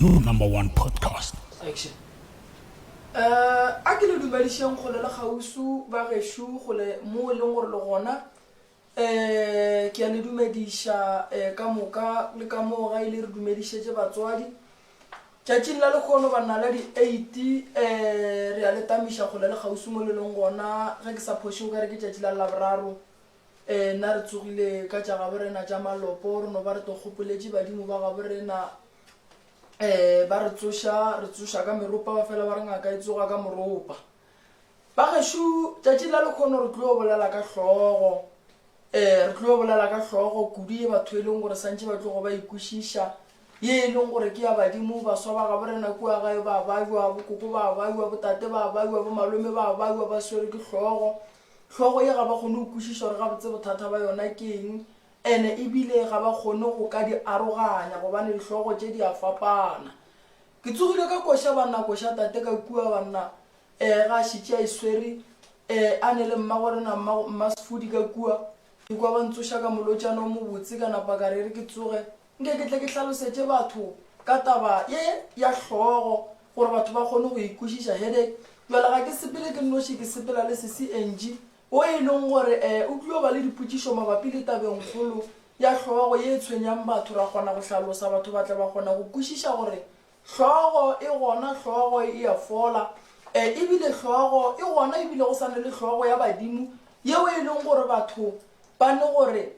your number one podcast. Action. Uh, a ke le dumedišeng kgole le gausu ba gešo gole mo e leng gore le gona Ee, ke a le dumediša eh, ka moka le ka moo ga ile re dumedišetše batswadi. Tšatšing la lekgono ba nna la di 8 eh, re a le tamiša kgole le kgauswi mo le leng gona, ge ke sa phoše o ka re ke tšatši la Laboraro. Eh, nna re tsogile ka tša gabo rena tša malopo, re no ba re to gopoletše badimo ba gabo rena. Eh, ba re tsoša, re tsoša ka meropa, ba fela ba re ngaka e tsoga ka moropa. Ba gešo tšatšing la lekhono re tlo bolela ka hlogo eh re tlo bolela ka hlogo kudu ye batho e leng gore santše ba tlogo ba ikwešiša ye e leng gore ke ya badimo baswa ba gabo rena kua gae ba baiwa bokoko ba baiwa botate ba baiwa bomalome ba baiwa ba swere ke hlogo hlogo ye ga ba kgone go kwešiša gore gabotse bothata ba yona ke eng ene ebile ga ba kgone go ka di aroganya gobane dihlogo tše di a fapana Ke tsogile ka koša banna koša tate ka kua banna eh ga šitše a iswere eh a ne le mmago rena mma mma sefodi ka kua ke kwa ba ntsoša ka molotšana o mobotse ka napa ka rere ke tsoge nke ke tle ke hlalosetše batho ka taba ye ya hlogo gore batho ba kgone go ikwešiša headache jwale ga ke sepele ke noši ke sepela le sesi Angie wo e leng gore e o tlio ba le dipotšišo mabapi le tabengkgolo ya hlogo ye e tshwenyang batho, ra kgona go hlalosa, batho ba tla ba kgona go kwešiša gore hlogo e gona, hlogo e a fola, e ebile hlogo e gona ebile go sane le hlogo ya badimo yeo e leng gore batho ba ne gore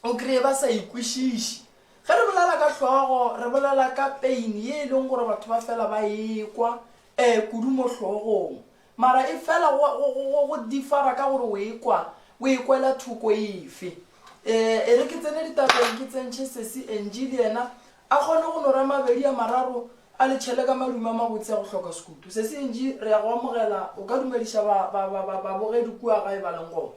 o kreye ba sa ikwešiši. Ge re bolela ka hlogo re bolela ka pain ye e leng gore batho ba fela ba ekwa e kudu mo hlogong. Mara e fela go, go, go, go, go differa ka gore o e kwa, o e kwela thoko efe. E, e re ke tsene ditabeng ke tsentšhe Sesi Angie le yena a kgone go no ra mabedi a mararo a le tšhele ka madume a mabotse a go hloka sekutu. Sesi Angie, re ya go amogela, o ka dumediša ba, ba, ba, ba, babogedi kua gae ba leng gona.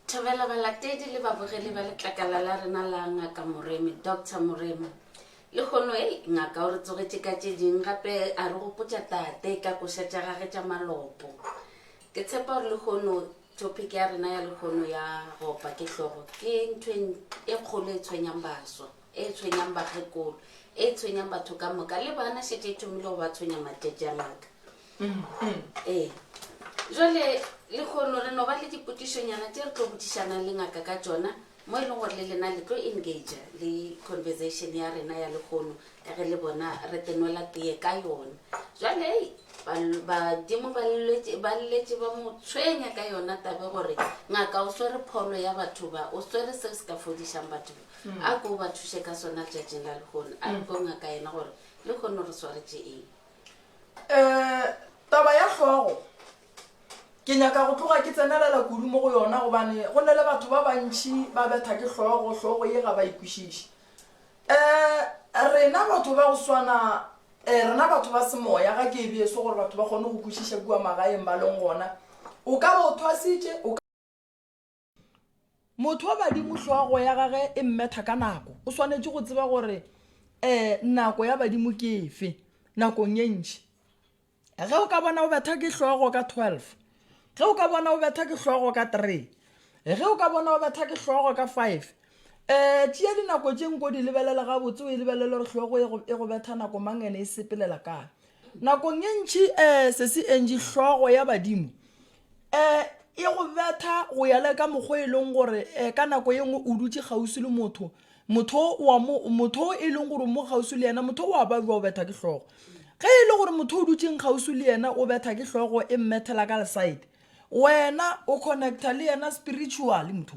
Thobela balatedi le babogedi ba letlakala la rena la Ngaka Moremi, Doctor Moremi. Lehono, ei, Ngaka o re tsogetše ka tše ding, gape a re gopotša Tate ka koša tša gage tša malopo. Ke tshepa gore lehono, topic ya rena ya lehono ya go opa ke hlogo, ke ntho e n- e kgolo e tshwenyang baswa, e tshwenyang bakgekolo, e tshwenyang batho ka moka, le bana šetše e thomile go ba tshwenya matšatši a Ngaka. ee jale lekgono re no ba le dipotišonyana tše re tlo botišanang le ngaka ka tšona mo e leng gore le lena le tlo engage le conversation ya rena ya lekgono ka ge le bona re tenwela teye ka yona jale ei bal- badimo ba lletše- ba lletše ba mo tshwenya ka yona tabe gore ngaka o swere pholo ya batho ba o swere seo se ka fodišang batho ba a ko o ba thuše ka sona letšatšing la lekgono a re ko ngaka yena gore lekgono re swaretše eng um taba ya hlogo ke nyaka go tloga ke tsenelela kudu mo go yona gobane go ne le batho ba bantšhi ba betha ke hlogo hlogo ye ga ba ikwešiše um rena batho ba go swana um rena batho ba semoya ga ke ebe eso gore batho ba kgone go kwešiša kua magaeng ba leng gona o ka ba o thwasitše motho wa badimo hlogo ya gage e mmetha ka nako o swanetše go tseba gore um nako ya badimo ke efe nakong ye ntši ge o ka bona o betha ke hlogo ka twelve ge o ka bona o betha ke hlogo ka three ge o ka bona o betha ke hlogo ka five um tšea dinako tše nko di lebelela gabotse o e lebelele gore hlogo e go e betha nako mang ene e sepelela kae Nakong ye ntši sesi Angie, hlogo ya badimo, e go betha go ya le ka mokgwa e leng gore ka nako ye nngwe o dutše kgauswi le motho, motho wa mo, motho e leng gore o mo kgauswi le yena, motho wa ba jwa o betha ke hlogo. Ge e le gore motho o dutšeng kgauswi le yena o betha ke hlogo e mmethela ka le side, wena o connecta le yena spiritually motho.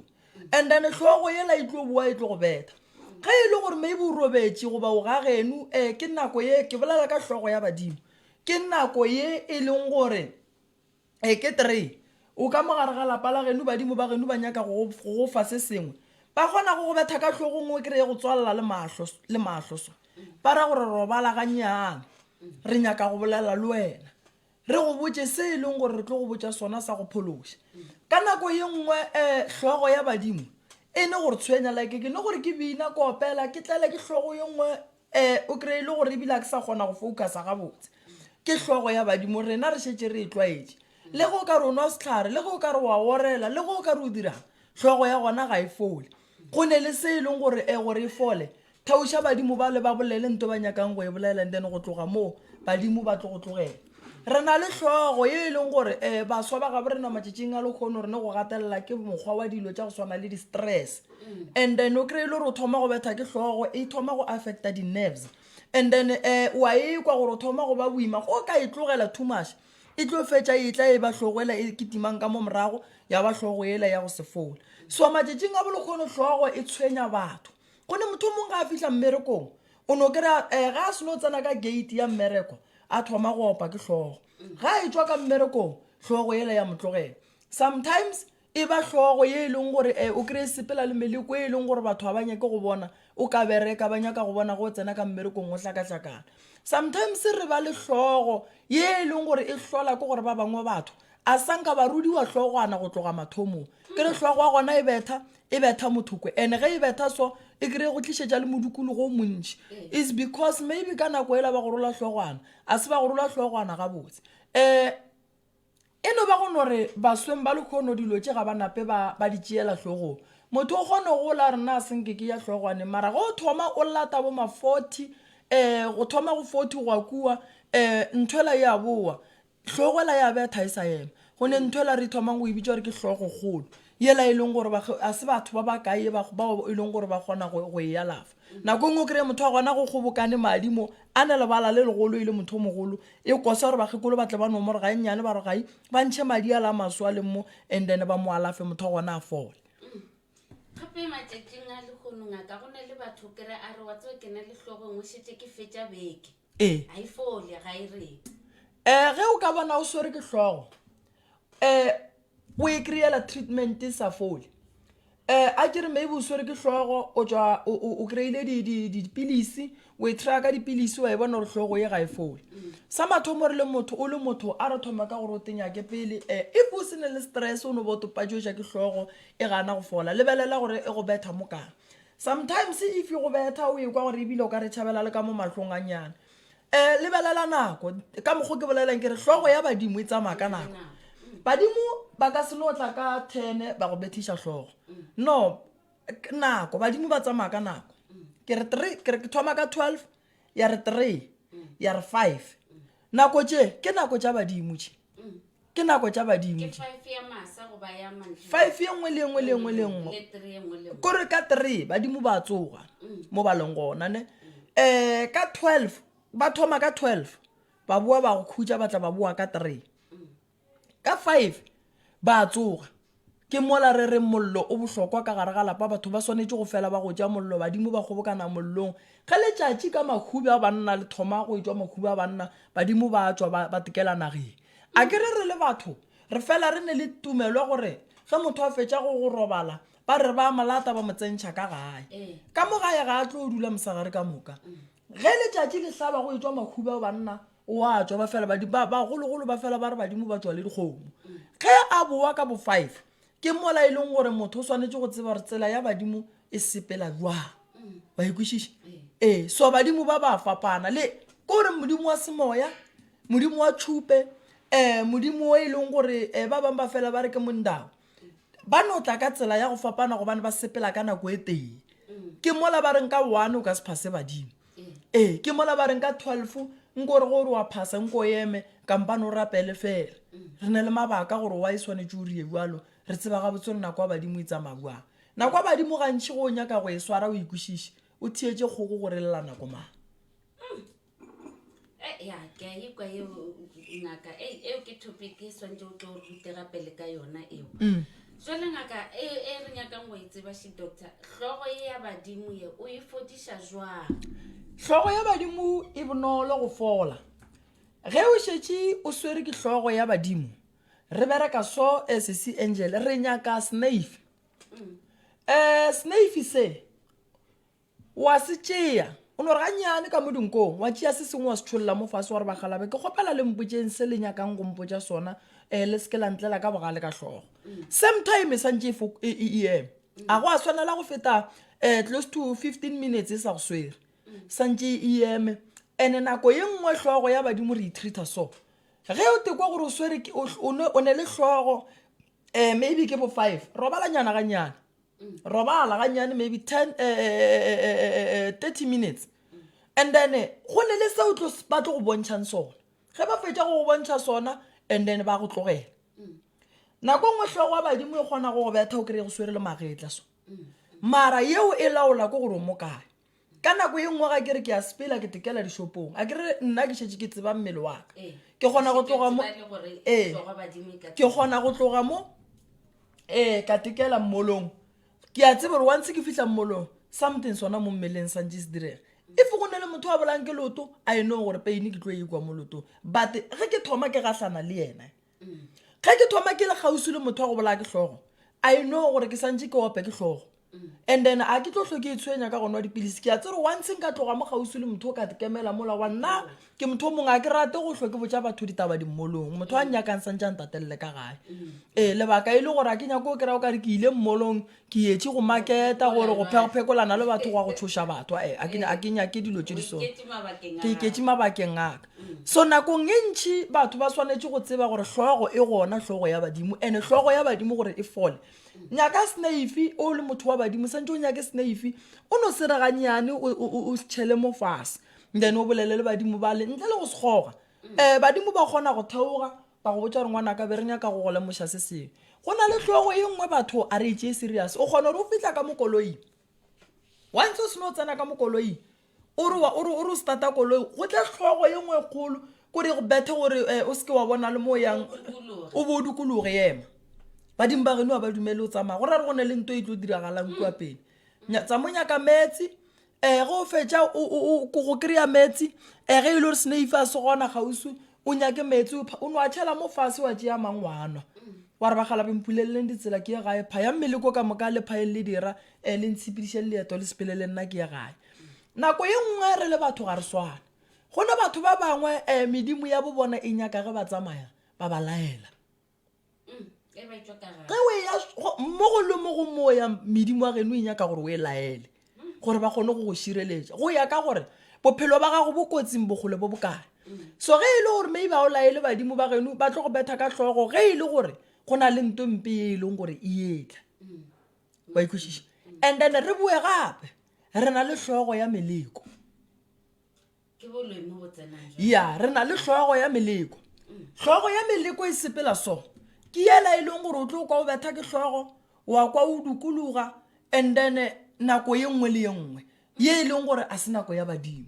and then hlogo yela e tlo boa e tlo go betha ge e le gore maybe o robetše goba o ga genu um eh, ke nako ye ke bolela ka hlogo ya badimo ke nako ye e leng gore um ke three o ka mogare ga lapa la genu badimo ba genu ba nyaka go go fa se sengwe ba kgona go go betha ka tlhogong o kry-e go tswalela le mahlo le mahlo so ba ra gore robala ganyana re nyaka go bolela le wena Re go botše se e leng gore re tlo go botša sona sa go phološa. Ka nako ye nngwe um hlogo ya badimo e ne gore tshwenya like ke ne gore ke bina ke opela ke tlele ke hlogo ye nngwe um o kry-e le gore ebile ga ke sa kgona go focusa gabotse ke hlogo ya badimo rena re šetse re e tlwaetše le ge o ka re o nwa setlhare le ge o ka re wa orela le ge o ka re o dirang hlogo ya gona ga e fole go ne le se e leng gore um gore e fole Theoša badimo bale ba bolele nto ba nyakang go e bolela and then go tloga moo badimo ba tlo go tlogela. Re na le hlogo ye e leng gore um baswa ba gabo rena matšatšing a lekgono re ne go gatelela ke mokgwa wa dilo tša go swana le di-stress and then o kry-e le gore o thoma go betha ke hlogo e thoma go affecta di-nerves and then um wa e kwa gore o thoma go ba boima go ka e tlogela too much e tlo fetša e tla e ba hlogo ela e ketimang ka mo morago ya ba hlogo ela ya go se fola so matšatšing a bolekgono hlogo e tshwenya batho go ne motho o mongwe ga a fihla mmerekong o no kry-a um eh, ga a seno tsena ka gate ya mmereko a thoma go opa ke tlhogo ga a e tswa ka mmerekong tlhogo ele ya motlogela sometimes e ba tlhogo ye e leng gore um o kry-e sepela le meleko e e leng gore batho ga ba nyake go bona o ka bereka ba nyaka go bona go tsena ka mmerekong o hlakahlakana sometimes re ba le tlhogo ye e leng gore e hlola ke gore ba bangwe batho A sa nka ba rudiwa hlogwana go tloga mathomong? Ke re hlogo wa gona e betha, e betha mothokwe. Ene ge e betha so, e kry go tlišetša le modukologo o montši. Is because maybe ka nako ela ba go rola hlogwana. A se ba go rola hlogwana gabotse. Eh, e no ba go no re basweng ba lekgono dilo tše ga ba nape ba, ba di tšeela hlogong. Motho o kgone go la rena a se nke ke ya hlogwaneng. Mara ge o thoma o lata bo ma-forty, eh, go thoma go forty go ya kua, eh, nthwela e a bowa. Hlogo ela ya betha e sa ema. Go ne ntho ela re ithomang go e bitša gore ke hlogokgolo, yela e leng gore ba, ga se batho ba bakae ba, bao e leng gore ba kgona go, go e alafa. Nako e nngwe o kry-e motho wa gona go kgobokane madi mo, a na lebala le legolo e le motho o mogolo, e kosa gore bakgekolo ba tle ba nomore ga e nnyane, ba re ga e, ba ntšhe madi ala a maswe a leng mo and then ba mo alafe motho wa gona a fole. Gape matšatšing a lehono, ngaka, go na le batho o kry-e a re, wa tseba ke na le hlogo e nngwe, šetše ke fetša beke. ee ga e fole ga e rete um ge o ka bona o swere ke hlogo um o e kry-ela treatment e sa fole um a ke re maybe o swere ke hlogo o tswa o- o o kry-ile di- di- dipilisi o e try ka dipilisi wa e bona gore hlogo ye ga e fole sa mathomo re le motho o le motho a re thoma ka gore o tenyake pele um if o se ne le stress o no bo topatšoša ke hlogo e gana go fola lebelela gore e go betha mo kang Sometimes if e go betha o ekwa gore ebile o ka re tšhabela le ka mo mahlong a nyana. Eh lebelela nako ka mokgo ke bolelelang ke re hlogo ya badimo e tsamaya ka nako. Badimo ba ka se no tla ka 10 ba go bethiša hlogo. No nako badimo ba tsamaya ka nako. Ke re 3 ke re ke thoma ka 12 ya re three ya re five nako tše ke nako tša badimo tše ke nako tša badimo tše five ye nngwe le engwe le engwe le nngwe kore ka three badimo ba tsoga mo ba leng gona ne um ka twelve ba thoma ka twelve ba boa ba go khutša ba tla ba boa ka three Ka five ba a tsoga. Ke mola re reng mollo o bohlokwa ka gare ga lapa, batho ba swanetše go fela ba go tša mollo, badimo ba kgobokana mollong. Ge letšatši ka makhudu a banna le thoma go etšwa makhudu a banna, badimo ba a tšwa ba ba tekela nageng. A ke re re le batho re fela re ne le tumelo ya gore ge motho a fetša go go robala ba re ba a mo lata ba mo tsentšha ka gae. Ka mo gae ga a tlo dula mosegare ka moka. Ge letšatši le hlaba go etšwa makhudu a banna, o a tswa ba fela ba- ba- bagologolo ba fela ba re badimo ba tswa le dikgomo ge a bowa ka bo five ke mola e leng gore motho o swanetše go tseba gore tsela ya badimo e sepela jwang ba ikwešiša ee so badimo ba ba fapana le ke gore modimo wa semoya modimo wa tšhupe um modimo o e leng gore um ba bangwe ba fela ba re ke mondau ba no tla ka tsela ya go fapana gobane ba sepela ka nako e tee ke mola ba reng ka one o ka se phase badimo ee ke mola ba reng ka twelve nko gore gore wa phasa nko eme kampane o rapele fela re ne le mabaka gore wa e swanetse o rie jalo re tseba ga botse re nako ya badimo e tsamaya jang nako ya badimo gantšhi go o nyaka go e swara o ikwešiše o theetse kgoko gore lela nako mang Eh, ya ke a ikwa eo ngaka e eo ke topic e swantse o tlo rutega pele ka yona eo Mm. jale ngaka e e re nyakang go e tseba she doctor hlogo e ya badimo ye o e fodiša jwang hlogo ya badimo e bonolo go fola ge o šetše o swere ke hlogo ya badimo re bereka so as se angel re nyaka snafe um snafe se O a se tšea, o no re gannyane ka mo dinkong, wa tšea se sengwe wa se tšholla mo fase wa re ba galabe, ke kgopela le mpotšeng se le nyakang go mpotša sona, um le se ke la ntlela ka bogale ka hlogo. Same time e swantše e, e, e, e eme. A go a swanela go feta um close to fifteen minutes e sa go swere, swantše e eme. And-e nako ye nngwe hlogo ya badimo re e treater so, ge o tekwa gore o swere ke, o ne le hlogo um maybe ke bo five, robalanyana gannyane. robala ganyane maybe ten eh, eh, eh, thirty minutes and then go ne le seo ba tlo go bontšhang sona ge ba fetša go go bontšha sona and then ba go tlogela nako nngwe tlhogo wa badimo e kgona go go betha o kry-e go swere le magetla so mara yeo e laola ko gore o mo kae ka nako ye nngwe ga ke re ke a sepela ke tekela dishopong a ke re nna ke šetse ke tseba mmele wa ka ee. ke kgona go tloga mo ee ke kgona go tloga mo ee ka tekela mmolong ke a tseba gore wa ntse ke fitlha mmolong something sona mo mmeleng sa ntse se direga if go ne le motho wa bolang ke loto a e no gore peine ke tlo e kwa mo lotong but ge ke thoma ke gahlana le ene ge ke thoma ke le kgausi le motho wa go bolaya ke hlogo i know gore ke santse ke ope ke hlogo and then a ke tlo tlho ke e tshwenya ka gona wa dipilisi ke a tsere once nka tloga mo gausi le motho o ka dikemela mola wa nna ke motho o mongwe a ke rate go tlho ke botsa batho ditaba dimmolong motho a nnyakang santse a ntatelele ka gae ee lebaka e le gore a ke nyako o kry-a o kare ke ile mmolong ke yetše go maketa gore go phekophekolana le batho gwa go tshoša batho eh, a ke nyake dilo tše di so ke iketše mabakeng aka mm. so nakong e ntšhi batho ba swanetše go tseba gore hlogo e gona hlogo ya badimo and hlogo ya badimo gore e fole nyaka snaife o le motho wa badimo santse o nyake snaife o no sereganyane o setšhele mo fase then o bolele le badimo bale ntle le go sekgoga um mm. eh, badimo ba kgona go theoga Ba go botša gore ngwanaka be re nyaka go go lemoša se sengwe. Go na le hlogo e nngwe batho a re e tšee serious. O kgona gore o fihla ka mo koloing. Once o seno tsena ka mo koloing o re o re o re o starta koloi go tle hlogo e nngwe e kgolo kore e go bethe gore o seke wa bona le mo o yang o bo o dikologe ema. Badimo ba geno ga ba dumele o tsamaya go ra gore go na le nto e tlo diragalang kua pele. Tsa mo nyaka meetse um ge o fetša go kry-a meetse um ge e le gore seneife a se gona kgauswi o nyake meetse o no a tšhela mo fase wa tšea mang wa nwa wa re bagala bempuleleleng ditsela ke ye gae pha ya mmele ko ka moka le phaeng le dira um le ntshepediše le leeto le sepele le nna ke ye gae nako ye nngwe re le batho ga re swane go ne batho ba bangwe um medimo ya bo bona e nyaka ge ba tsamaya ba ba laela ge o eya mo go le mo go moya medimo wa geno e nyaka gore o e laele gore ba kgone go go šireletša go ya ka gore bophelo ba gago bo kotsing bogole bo bokae so ge e le gore maybe a o laele badimo ba geno ba tlo go betha ka tlhogo ge e le gore go na le nto mpe e e leng gore e etla wa ikwešiša and then re boe gape re na le tlhogo ya meleko ya re na le hlogo ya meleko hlogo ya meleko e sepela so ke yela e leng gore o tlo kwa o betha ke hlogo wa kwa o dukologa and then eh, nako ye nngwe le ye nngwe ye e leng gore a se nako ya badimo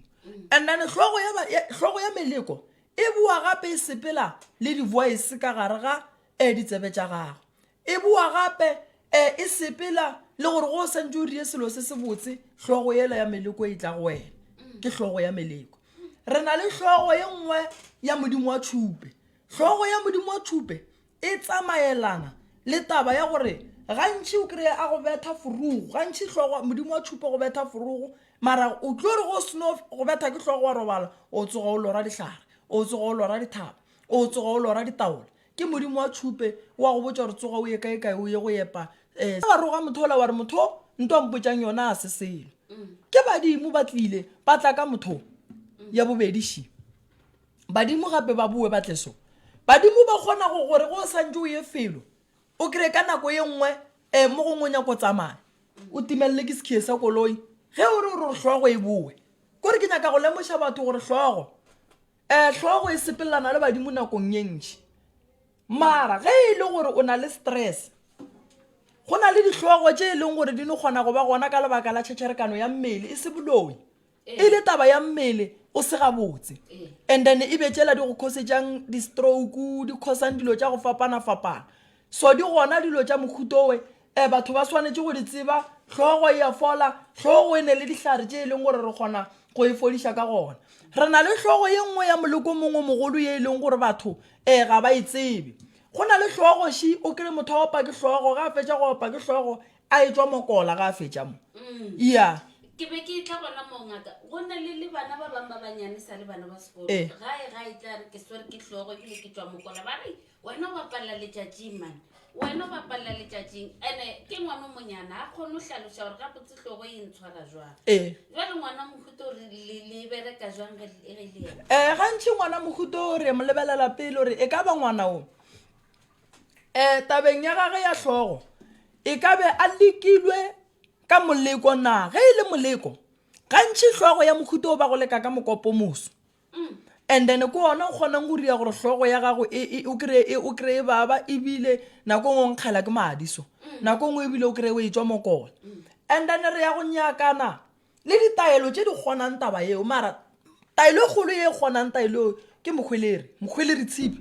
and then hlogo ya, ba- ya- hlogo ya meleko e boa gape e sepela le di-voice ka gare ga um ditsebe tša gago E boa gape e e sepela le gore go o santse o rie selo se se botse, hlogo yela ya meleko e tla go wena. Ke hlogo ya meleko. Re na le hlogo ye nngwe ya Modimo wa tšhupe. Hlogo ya Modimo wa tšhupe e tsamaelana le taba ya gore gantši o kry-e a go betha forogo, gantši hlogo Modimo wa tšhupe go betha forogo, mara o tlo re go seno go betha ke hlogo wa robala, o tsoga o lora dihlare, o tsoga o lora dithaba, o tsoga o lora ditaola, Ke Modimo wa tšhupe, o a go botša gore tsoga o ye kaekae o ye go epa. Eh, wa roga motho ola wa re, Motho, nto a mpotšang yona ga se selo. Ke badimo ba tlile ba tla ka motho ya bobedi shi. Badimo gape ba boe ba tle so. Badimo ba kgona go gore go santše o ye felo, o kry ka nako ye nngwe eh, mo gongwe o nyako tsamaya, o timelele ke sekhiye sa koloi, ge o re o re hlogo e boe. Kore ke nyaka go lemoša batho gore hlogo, Ee, hlogo e sepelelana le badimo nakong ye ntši. Mara ge e le gore o na le stress, go na le dihlogo tše e leng gore di no kgona go ba gona ka lebaka la tšhetšherekano ya mmele, e se boloi. E le taba ya mmele o se gabotse. And then e be tšela di go khosetšang di-stroke, di khosang dilo tša go fapana-fapana. So di gona dilo tša mohuta owe e batho ba swanetše go di tseba, Hlogo e a fola, hlogo e ne le dihlare tše e leng gore re kgona go e fodiša ka gona. Re na le hlogo ye nngwe ya moleko mongwe o mogolo ye e leng gore batho e ga ba e tsebe. Go na le hlogo shi, o kry motho a opa ke hlogo, ga a fetša go opa ke hlogo a e tšwa mokola ga a fetša mo. Yeah. ke be ke tla gona moo ngaka go na le le bana ba bangwe ba banyane sa le bana ba sekolo Eh. gae ga e tla re ke swere ke hlogo ebile ke tšwa mokola ba re Wena o bapalela letšatšing, man. Wena o bapalela letšatšing. Ene ke ngwana o monyana, ga kgone go hlaloša gore gabotse hlogo e ntshwara jwang. Ee. Jwale ngwana wa mohuta o re le le bereka jwang ge le ge le yena? um gantši ngwana mohuta o re mo lebelela pele gore e ka ba ngwana o um tabeng ya gage ya hlogo e ka be a lekilwe ka moleko na ge e le moleko gantši hlogo ya mohuta o ba go leka ka mokopomoso and then ko ona o kgonang go ria gore hlogo ya gago e, e, o kry e, o kry baba ebile nako e ngwe o nkgela ke madi so mm. nako e ngwe ebile o kry o e tswa mokona mm. and then re ya go nyakana le ditaelo tse di kgonang taba eo mara taelo e kgolo e kgonang taelo eo ke mokgweleri mokgweleri tshipi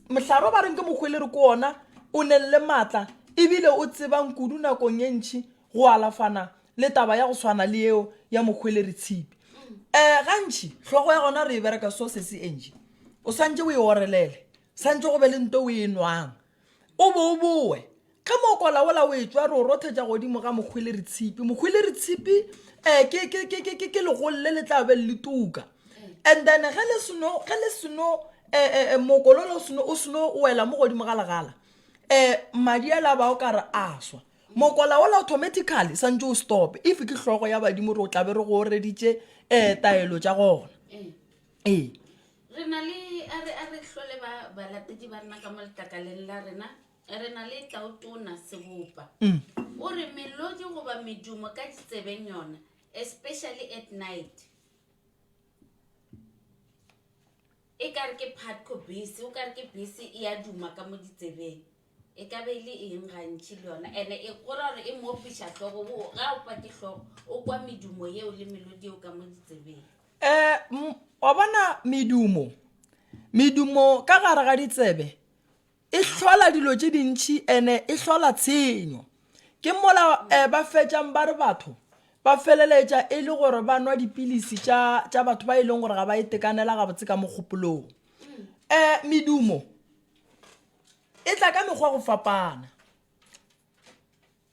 mohlaro ba reng ke mokgweleri ko ona o neng le maatla ebile o tsebang kudu nakong e ntšhi go alafana le taba ya go swana le yeo ya mohweleri tshipi um gantši hlogo ya gona re e bereka so se se enje o swantse o e orelele swantse go be le nto o e nwang o bo o bowe ge mo kolaola o e tswa re o rothetša godimo ga mohweleri tshipi mohweleri tshipi um ke, ke, ke, ke, ke, ke legolo le le tla be le le tuka and then ge le seno ge le seno um eh, eh, eh, mokololo o seno o seno wela mo godimo ga legala um madi a la ba o ka re a swa Mokola wola automatically santse o stope if ke hlogo ya badimo re o tlabe re go oreditše um taelo tša gona ee re na le a re a re hlole ba balatedi ba nna ka mo letlakaleng la rena re na le tautona sebopa mm. o re melodi goba medumo ka ditsebeng yona especially at night e kare ke patco bese o kare ke bese e a duma ka mo ditsebeng E ka be e le eng gantši le yona? Ene e go ra gore e mo opiša hlogo, wo ga opa ke hlogo, o kwa medumo yeo le melodi yeo ka mo ditsebeng. Um wa bona medumo, medumo ka gare ga ditsebe e hlola dilo tše dintšhi ene e hlola tshenyo. Ke mola eh, ba fetšang ba re batho ba feleletša e le gore ba nwa dipilisi tša tša batho ba e leng gore ga ba itekanela gabotse ka mogopolong. Um medumo E tla ka mekgwa go fapana.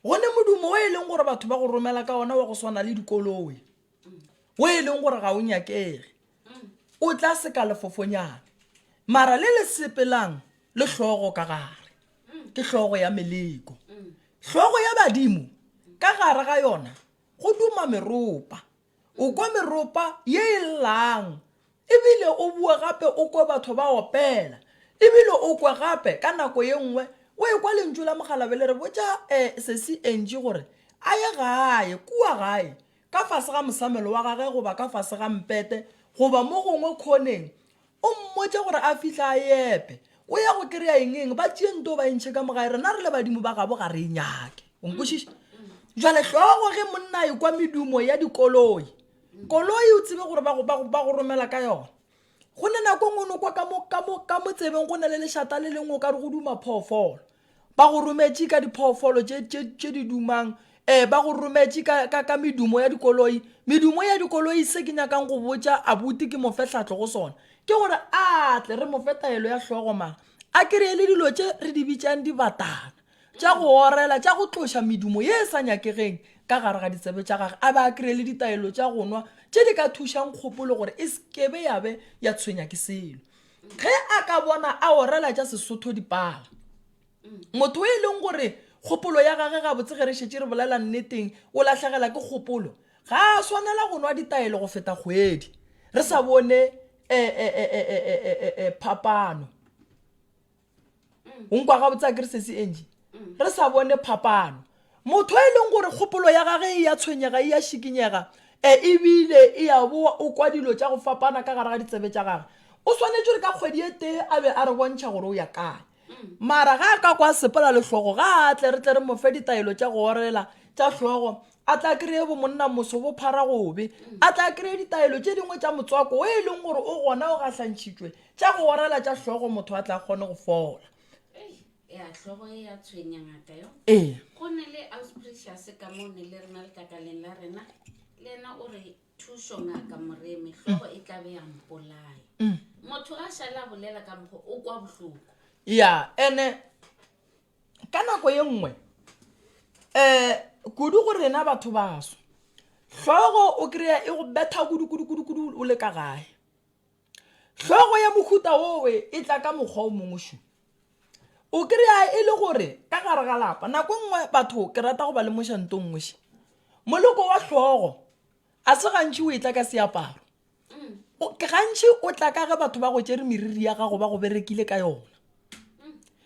Go ne modumo o e leng gore batho ba go romela ka ona wa go swana le dikoloe, o e leng gore ga o nyakege, o tla seka lefofonyane. Mara le le sepelang le hlogo ka gare, ke hlogo ya meleko. Hlogo ya badimo ka gare ga yona go duma meropa. O kwa meropa ye e llang, e bile o boe gape o kwe batho ba opela. E bile o kwe gape, ka nako ye nngwe, o ekwa lentšu la mokgalabje le re botša eh, Sesi Angie gore a ye gae, kua gae, ka fase ga mosamelo wa gage goba ka fase ga mpete goba mo gongwe khoneng O mmotše gore a fihle a e epe. O ya go kry-a eng eng? Ba tšee nto ba e ntšhe ka mogae. Rena re le badimo ba gabo ga re e nyake. O nkwešiša? Jale hlogo ge monna e kwa medumo ya dikoloi. Koloi o tsebe gore ba go, ba go, ba go romela ka yona. Go ne nako e nngwe o no kwa ka mo, ka mo, ka mo tsebeng go na le lešata le lengwe o ka re go duma phoofolo. Ba go rometše ka diphoofolo tše, tše, tše di dumang um ba go rometše ka, ka, ka medumo ya dikoloi medumo ya dikoloi se ke nyakang go botša abuti ke mofe tlhatlo go sona ke gore a tle re mofe taelo ya hlogo mara a kereye le dilo tše re di bitšang dibatana tša go orela tša go tloša medumo ye e sa nyakegeng ka gare ga ditsebe tša gage a ba a kereye le ditaelo tša go nwa tše di ka thušang kgopolo gore e sekebe ya be ya tshwenya ke selo ge a ka bona a orela tša sesotho dipala motho e leng gore kgopolo ya gage gabotse ge re šetse re bolela nneteng o lahlegela ke kgopolo ga a swanela go nwa ditaelo go feta kgwedi re sa bone eh, eh, eh, eh, eh, eh, eh, eh, phapano o nkwa gabotse a kere sesi eng re sa bone phapano motho e leng gore kgopolo ya gage e ya tshwenyega e ya šikinyega e ebile e ya boa o kwa dilo tša go fapana ka gare ga ditsebe tša gage o swanetše re ka kgwedi e tee a be a re bontšha gore o ya kae mara ga a ka kwa sepela lehlogo ga a tle re tle re mofe ditaelo tša go orela tša hlogo a tla kry-e bomonna moso bo phara gobe a tla kry-e ditaelo tše dingwe tša motswako o e leng gore o gona o gahlantšhitšwe tša go orela tša hlogo motho a tla kgone go fola ya tlhogo e ya tshwenya ngaka yo ee go ne le ausprecious ka mo ne le rena letakaleng la rena le ena o re thušo ngaka moreme tlhogo e tla be ya mpolaya motho a šala bolela ka mokgo o kwa bohloko ya ene ka nako ye nngwe um kudu go rena batho baso hlogo o kry-a e go betha kudukudukudukudu o le ka gae hlogo ya mohuta owe e tla ka mokgwa o mongwe šo o kry-a e le gore ka gare ga lapa nako nngwe batho ke rata go ba le mošantong ngweše moloko wa hlogo a se gantši o e tla ka seaparo gantši o tla ka ge batho ba go tšere meriri ya gago ba go berekile ka yona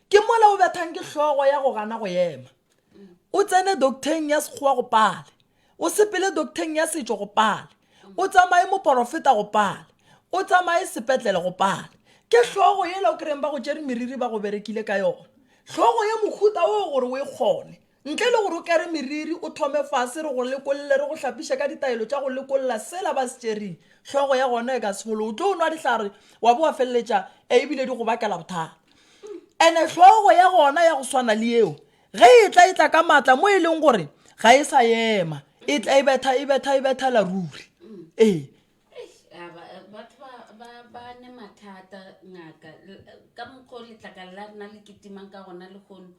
ke mola o bethang ke hlogo ya go gana go ema o tsene docteng ya sekgowa go pale o sepele docteng ya setšo go pale o tsamaye moporofeta go pale o tsamaye sepetlele go pale ke hlogo yela o kry-eng ba go tšere meriri ba go berekile ka yona hlogo ya mohuta o gore o e kgone Ntle le gore o kere meriri, o thome fase, re go lekolle, re go hlapiše ka ditaelo tša go lekolla sela ba se tšereng. Hlogo ya gona e ka se fologe. O tlo nwa dihlare wa bo wa feleletša e ebile di go bakela bothata. Ene hlogo ya gona ya go swana le yeo, ge e tla e tla ka matla mo e leng gore ga e sa ema, e tla e betha, e betha, e bethela ruri. Ee. batho ba ba ba ne mathata ngaka ka mokgwa o letlakala la rena le kitimang ka gona lehono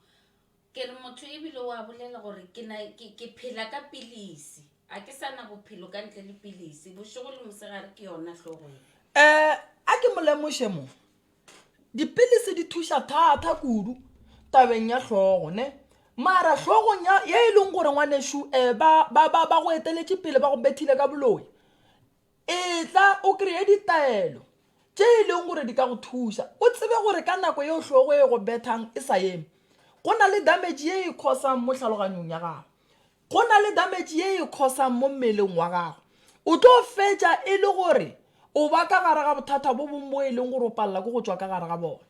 Ke re motho e bile o a bolela gore ke na ke ke phela ka pilisi. A ke sa na bophelo ka ntle le pilisi. Bošego le mosegare ke yona hlogo ye. Eh, a ke mo lemoše mo. Dipilisi di thuša thatha kudu tabeng ya hlogo, ne? Mara hlogong ya, ye e leng gore ngwanešu eh ba, ba, ba, ba go eteletše pele ba go bethile ka boloi, Etla o kreye ditaelo tše e lego gore di ka go thuša o tsebe gore ka nako yeo hlogo e go bethang e sa eme, go na le damage ye e khosang mo tlhaloganyong ya gago. Go na le damage ye e khosang mo mmeleng wa gago. O tlo fetša e le gore o ba ka gare ga bothata bo bongwe bo e leng gore o palela ke go tšwa ka gare ga bona.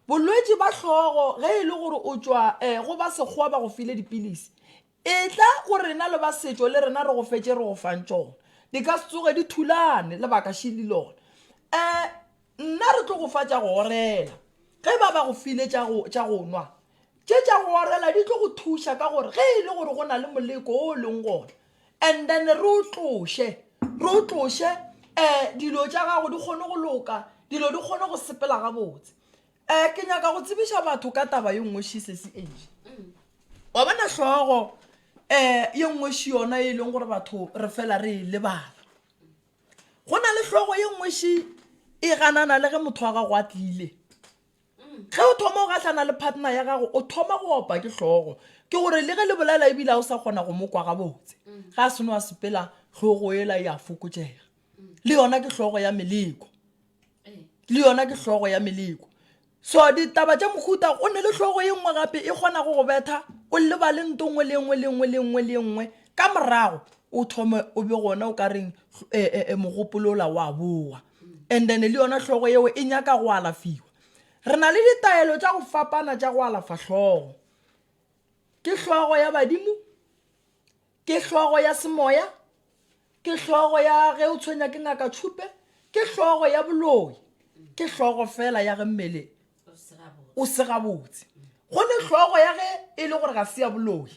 Bolwetši ba hlogo ge e le gore o tšwa um go ba sekgowa ba go file dipilisi, Etla go rena le ba setšo le rena re go fetše re go fang tšona. Di ka se tsoge di thulane lebaka šili lona. Eh, nna re tlo go fa tša go orela. Ge ba ba go file tša go, tša go nwa, tše tša go orela di tlo go thuša ka gore ge e le gore go na le moleko o o leng gona, and then re o tloše, re o tloše, eh, dilo tša gago di kgone go loka, dilo di kgone go sepela gabotse. um ke nyaka go tsebiša batho ka taba ye nngwe shisesi age wa bona hlogo um ye nngwe shi yona e leng gore batho re fela re e lebala go na le hlogo ye nngwe shi e ganana le ge motho wa gago a tlile ge o thoma o gahlana le partner ya gago o thoma go opa ke hlogo ke gore le ge le bolela ebile a o sa kgona go mo kwa gabotse ga a seno a sepela hlogo ela e a fokotšega le yona ke hlogo ya meleko le yona ke hlogo ya meleko so ditaba tša mohuta o ne le hlogo ye nngwe gape e kgonago go betha o lebale nto nngwe le nngwe le nngwe le nngwe le nngwe ka morago o thome o be gona o ka reng eh, eh, eh, mogopolola wa boa and then le yona hlogo yeo e nyaka go alafiwa re na le ditaelo tša go fapana tša go alafa hlogo ke hlogo ya badimo Ke hlogo ya semoya, ke hlogo ya ge o tshwenya ke ngaka tšhupe, ke hlogo ya boloi, ke hlogo fela ya ge mmele o se gabotse. Go ne hlogo ya ge e le gore ga se ya boloi,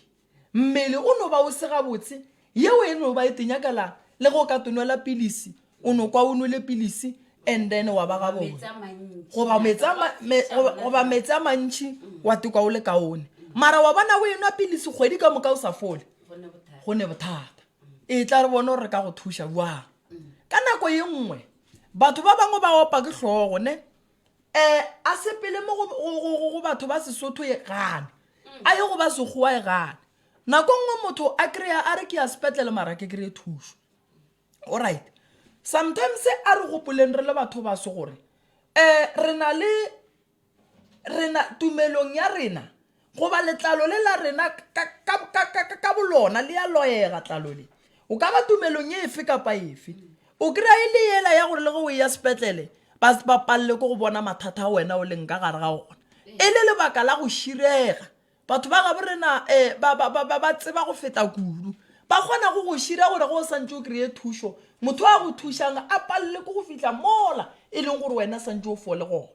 mmele o no ba o se gabotse, yeo e no ba e tenyakela le go ka tonwela pilisi o no kwa o nwele pilisi and then wa ba gabone goba metsi a mantšhi mm. wa tekwa o le kaone mara wa bona o enwa pilisi kgwedi ka moka o sa fole go ne bothata e tla re bone gore re ka go thuša jwang ka nako ye nngwe batho ba bangwe ba opa ke tlhogo ne um a sepele mo go batho ba sesotho e gane a ye go ba segowa e gane nako nngwe motho a kry-a a re ke ya sepetlele mara ke kry-e thušo Alright. Sometimes a re gopoleng re le batho ba se gore eh re na le rena tumelong ya rena goba letlalo le la rena ka bolona le ya loyega tlalo le o ka ba tumelong e efe kapa efe o kry-a e le yela ya gore le ge o e ya sepetlele ba se ba palele ko go bona mathata a wena o leng ka gare ga ona e le lebaka la go širega Batho ba gabo rena ba, ba, ba, ba, ba tseba go feta kudu. Ba kgona go go šira gore ge o santše o kreye thušo, motho a go thušang a palele ke go fihla mola e leng gore wena santše o fole gona.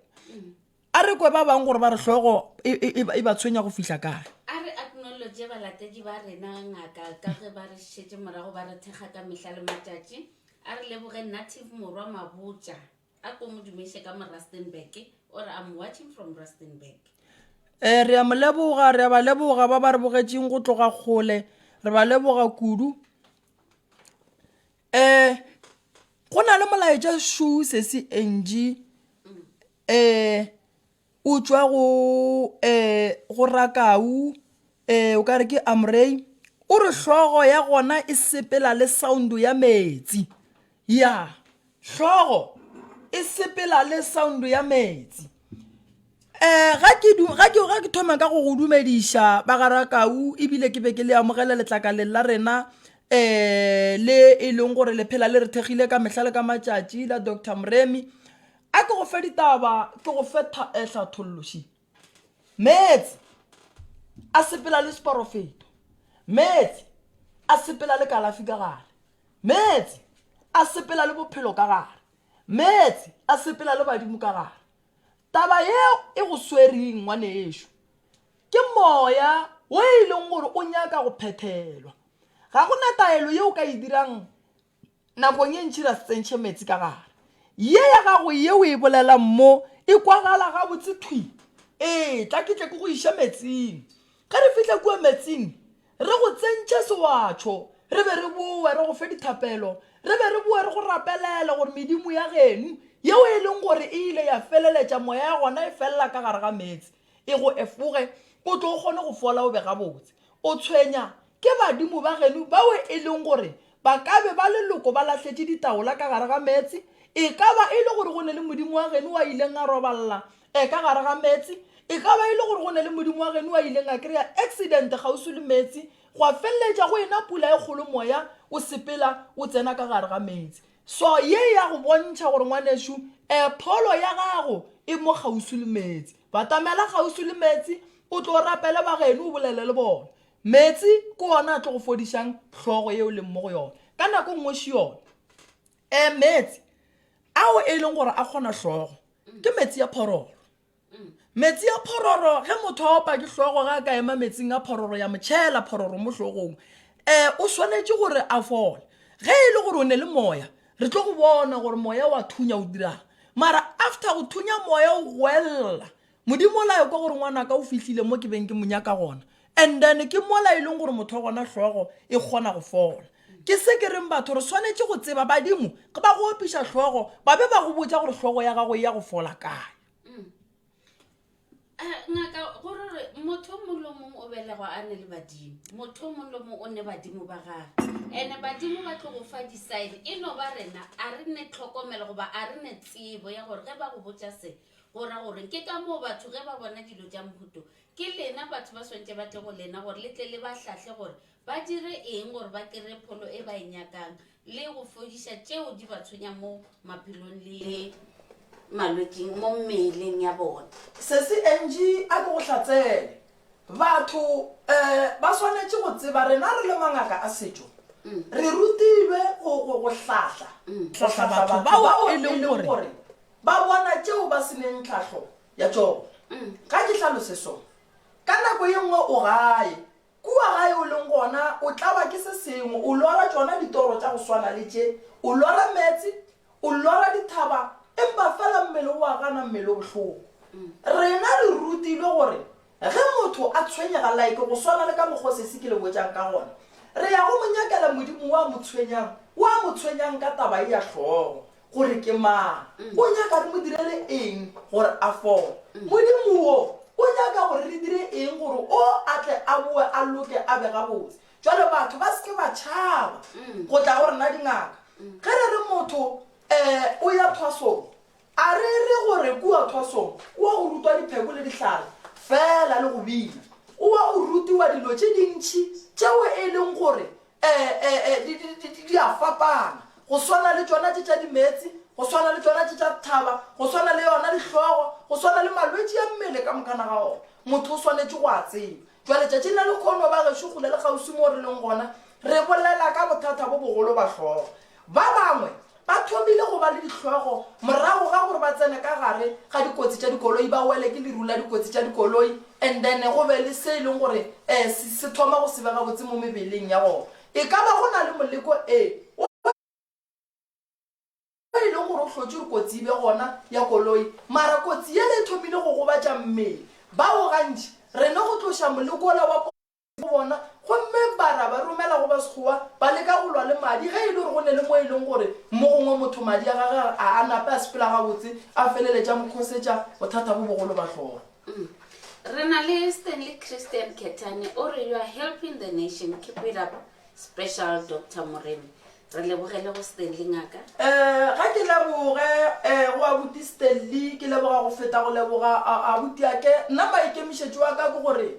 A re kwe ba bang gore ba re hlogo e, e, e, e ba tshwenya go fihla kae. A re acknowledge balatedi ba rena, Ngaka, ka ge ba re šetše morago ba re thekga ka mehla le matšatši. A re leboge Native Morwa Mabotja. A ko mo dumeše ka mo Rustenburg or I'm watching from Rustenburg. Ee, re a mo leboga, re a ba leboga ba ba re bogetšeng go tloga kgole, re ba leboga kudu. Eh, go na le molaetša shoe sesi Angie, eh, O tšwa go um go Rakau, um o ka re ke Amrei. O re hlogo ya gona e sepela le sound ya meetse. Ya, hlogo e sepela le sound ya meetse. Um ga ke du, ga ke, ga ke thoma ka go go dumediša ba ga Rakau ebile ke be ke le amogela letlakaleng la rena um le e leng gore le phela le re thekgile ka mehla le ka matšatši la Doctor Moremi. A ke go fe ditaba, ke go fe tha, eh, hlathollo, she. Meetse a sepela le seporofeto. Meetse a sepela le kalafi ka gare. Meetse a sepela le bophelo ka gare. Meetse a sepela le badimo ka gare. Taba yeo e go swereng, ngwanešu, ke moya wo e leng gore o nyaka go phethelwa. Ga go na taelo yeo o ka e dirang Nakong e ntši ra se tsentšhe meetse ka gare. Ye ya gago ye o e bolelang mo e kwagala gabotse thwi. Ee, tla ke tle ke go iše meetseng. Ge re fihla kua meetseng, re go tsentše sewatšho, re be re bowe re go fe dithapelo, re be re bowe re go rapelele gore medimo ya geno, yeo e leng gore e ile ya feleletša moya ya gona e felela ka gare ga meetse, e go efoge, o tlo kgone go fola o be gabotse. O tshwenya ke badimo ba geno bao e leng gore ba ka be ba leloko ba lahletše ditaola ka gare ga meetse? E ka ba e le gore go ne le modimo wa geno a ileng a roballa e ka gare ga meetse? E ka ba e le gore go ne le modimo wa geno a ileng a kry-a accident kgauswi le meetse, gwa feleletša go ena pula e kgolo moya o sepela o tsena ka gare ga meetse? So ye ya go bontšha gore ngwanešu e pholo ya gago e mo kgauswi le meetse. Batamela kgauswi le meetse, o tlo rapele bageno o bolele le bona. Meetse ke ona a tlo go fodišang hlogo ye o leng mo go yona. Ka nako nngwe še yona. E meetse ao e leng gore a kgona hlogo ke meetse ya phororo. Metsi a phororo, ge motho a opa ke hlogo, ga a ka ema metsing a phororo ya mo tšhela phororo mo hlogong, um o swanetše gore a fole. Ge e le gore o ne le moya, re tlo go bona gore moya wa thunya o dirang. Mara after go thunya moya o goelela, Modimo o la ekwa gore ngwanaka o fihlile mo ke beng ke mo nyaka gona. and then ke mola e leng gore motho wa gona hlogo e kgona go fola ke se ke reng batho re swanetše go tseba badimo ge ba go opiša hlogo ba be ba go botsa gore hlogo ya gago e ya go fola kae Eh, ngaka go re re motho o mongwe le o mongwe o belegwa a ne le badimo motho o mongwe le o mongwe o ne badimo ba gage and badimo ba tlo go fa di-sign e no ba rena a re ne tlhokomelo goba a re ne tsebo ya gore ge ba go botša se go ra goreng ke ka moo batho ge ba bona dilo tša mohuto Ke lena batho ba swantše ba tle go lena gore le tle le ba hlahle gore ba dire eng gore ba kry-e pholo e ba e nyakang le go fodiša tšeo di ba tshwenyang mo maphelong le malwetsing mo mmeleng ya bona. Sesi Angie a no go hlatsele. Batho eh ba swanetše go tseba rena re le mangaka a setšo re rutilwe go go go hlahla go hlahla batho bao e leng gore ba bona tšeo ba se neng tlhahlo ya tšogo ga ke hlalose so ka nako ye nngwe o gae kua gae o leng gona o tlawa ke se sengwe o lora tšona ditoro tša go swana le tše o lora meetse o lora dithaba empa fela mmele o wa gana mmele o bohloko rena re rutilwe gore Ge motho a tshwenyega, like go swana le ka mokgwa o sesi ke le botšang ka gona, re ya go mo nyakela modimo wo a mo tshwenyang, wo a mo tshwenyang ka taba ye ya hlogo, gore ke mang, o nyaka re mo direle eng gore a fole. Modimo wo o nyaka gore re dire eng gore o a tle a boe a loke a be gabotse. Jwale batho ba se ke ba tšhaba go tla go rena dingaka. Ge re re motho um o ya thwasong, A re re go re kua Thwasong o wa go rutwa dipheko le dihlare feela le go bina. O wa go rutiwa dilo tše dintši tšeo e leng gore di a fapana, go swana le tšona tše tša dimeetse, go swana le tšona tše tša dithaba, go swana le yona dihlogo, go swana le malwetši a mmele ka mokana ga ona. Motho o swanetše go a tseba. Bjale, tšatšing la lekhono, bagešo, kgole le kgauswi moo re leng gona, re bolela ka bothata bo bogolo ba hlogo. Ba bangwe ba thomile go ba le dihlogo morago ga gore ba tsene ka gare ga dikotsi tša dikoloi, ba wele ke leru la dikotsi tša dikoloi, and then go be le se e leng gore eh se, se thoma go se be gabotse mo mebeleng ya gona. E ka ba go na le moleko, ee, o. Mo e lego gore o hlotše gore kotsi e be gona ya koloi, mara kotsi yela e thomile go gobatša mmele. Bao gantši re no go tloša moleko wola wa kotsi go bona gomme ba ra ba romela go Basekgowa ba leka go lwa le madi ge e le gore go ne le mo e lego gore mo gongwe motho madi a gagwe a a nape a sepela gabotse a feleletša a mo khosetša bothata bo bogolo ba hlora. Re na le Stanley Christian Kethane o re, You are helping the nation, keep it up. Special Doctor Moremi. Re lebogele go Stanley ngaka. Eh, ga ke leboge eh, go abuti Stanley, ke leboga go feta go leboga a- abuti ake. Nna maikemišetšo wa ka ke gore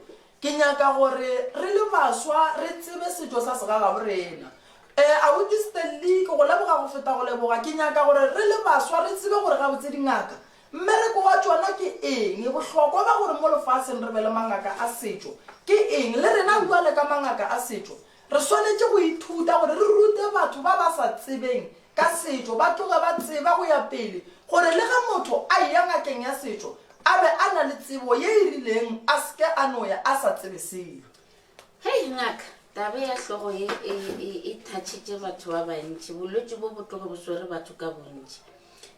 ke nyaka gore re le baswa re tsebe setšo sa segagabo rena. Eh, abuti Stanley, ke go leboga go feta go leboga. Ke nyaka gore re le baswa re tsebe gore gabotse dingaka Mmereko wa tšona ke eng? Bohlokwa ba gore mo lefaseng re be le mangaka a setšo ke eng? Le rena bjale ka mangaka a setšo re swanetše go ithuta gore re rute batho ba ba sa tsebeng ka setšo ba tloge ba tseba go ya pele gore le ge motho a eya ngakeng ya setšo a be a na le tsebo ye e rileng a se ke a no ya a sa tsebe selo. Hei ngaka, taba ya hlogo ye e, e, e thatšitše batho ba bantši. Bolwetši bo bo tloge bo swere batho ka bontši.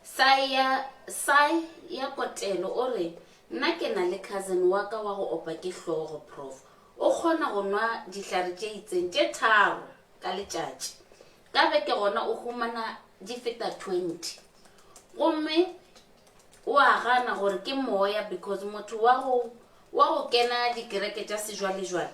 Sai ya, Sai ya Kotelo o re, Nna ke na le cousin wa ka wa go opa ke hlogo, Prof. O kgona go nwa dihlare tše itseng tše tharo ka letšatši. Ka beke gona o humana di feta 20. Gomme O a gana gore ke moya because motho wa go wa go kena dikereke tša sejwalejwale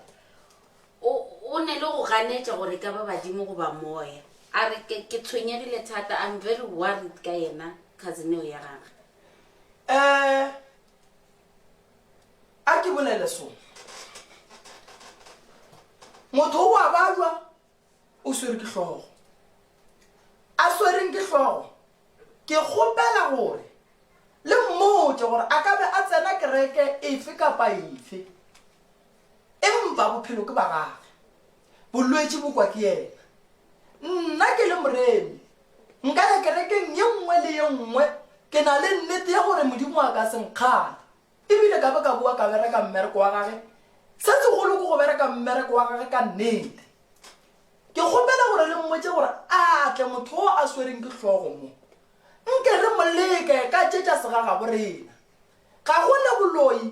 o o ne le go ganetša gore ka ba badimo goba moya. A re ke ke tshwenyegile thata, I'm very worried ka yena cousin eo ya gagwe. Eh, a ke bolele sona. Motho o a balwa. o swere ke hlogo a swereng ke hlogo ke kgopela gore le mmotse gore a ka be a tsena kereke efe kapa efe empa bophelo ke ba gage bolwetši bo kwa ke yena nna ke le moremi nka ya kerekeng ye nngwe le ye nngwe ke na le nnete ya gore modimo a ka senkgale E bile ka be ka boa ka bereka mmereko wa gage, se segolo ke go bereka mmereko wa gage ka nnete. Ke kgopela gore le mmotše gore a tle motho wo a swereng ke hlogo mo. Nke re mo leke ka tše tša segagabo rena. Ga go ne boloi,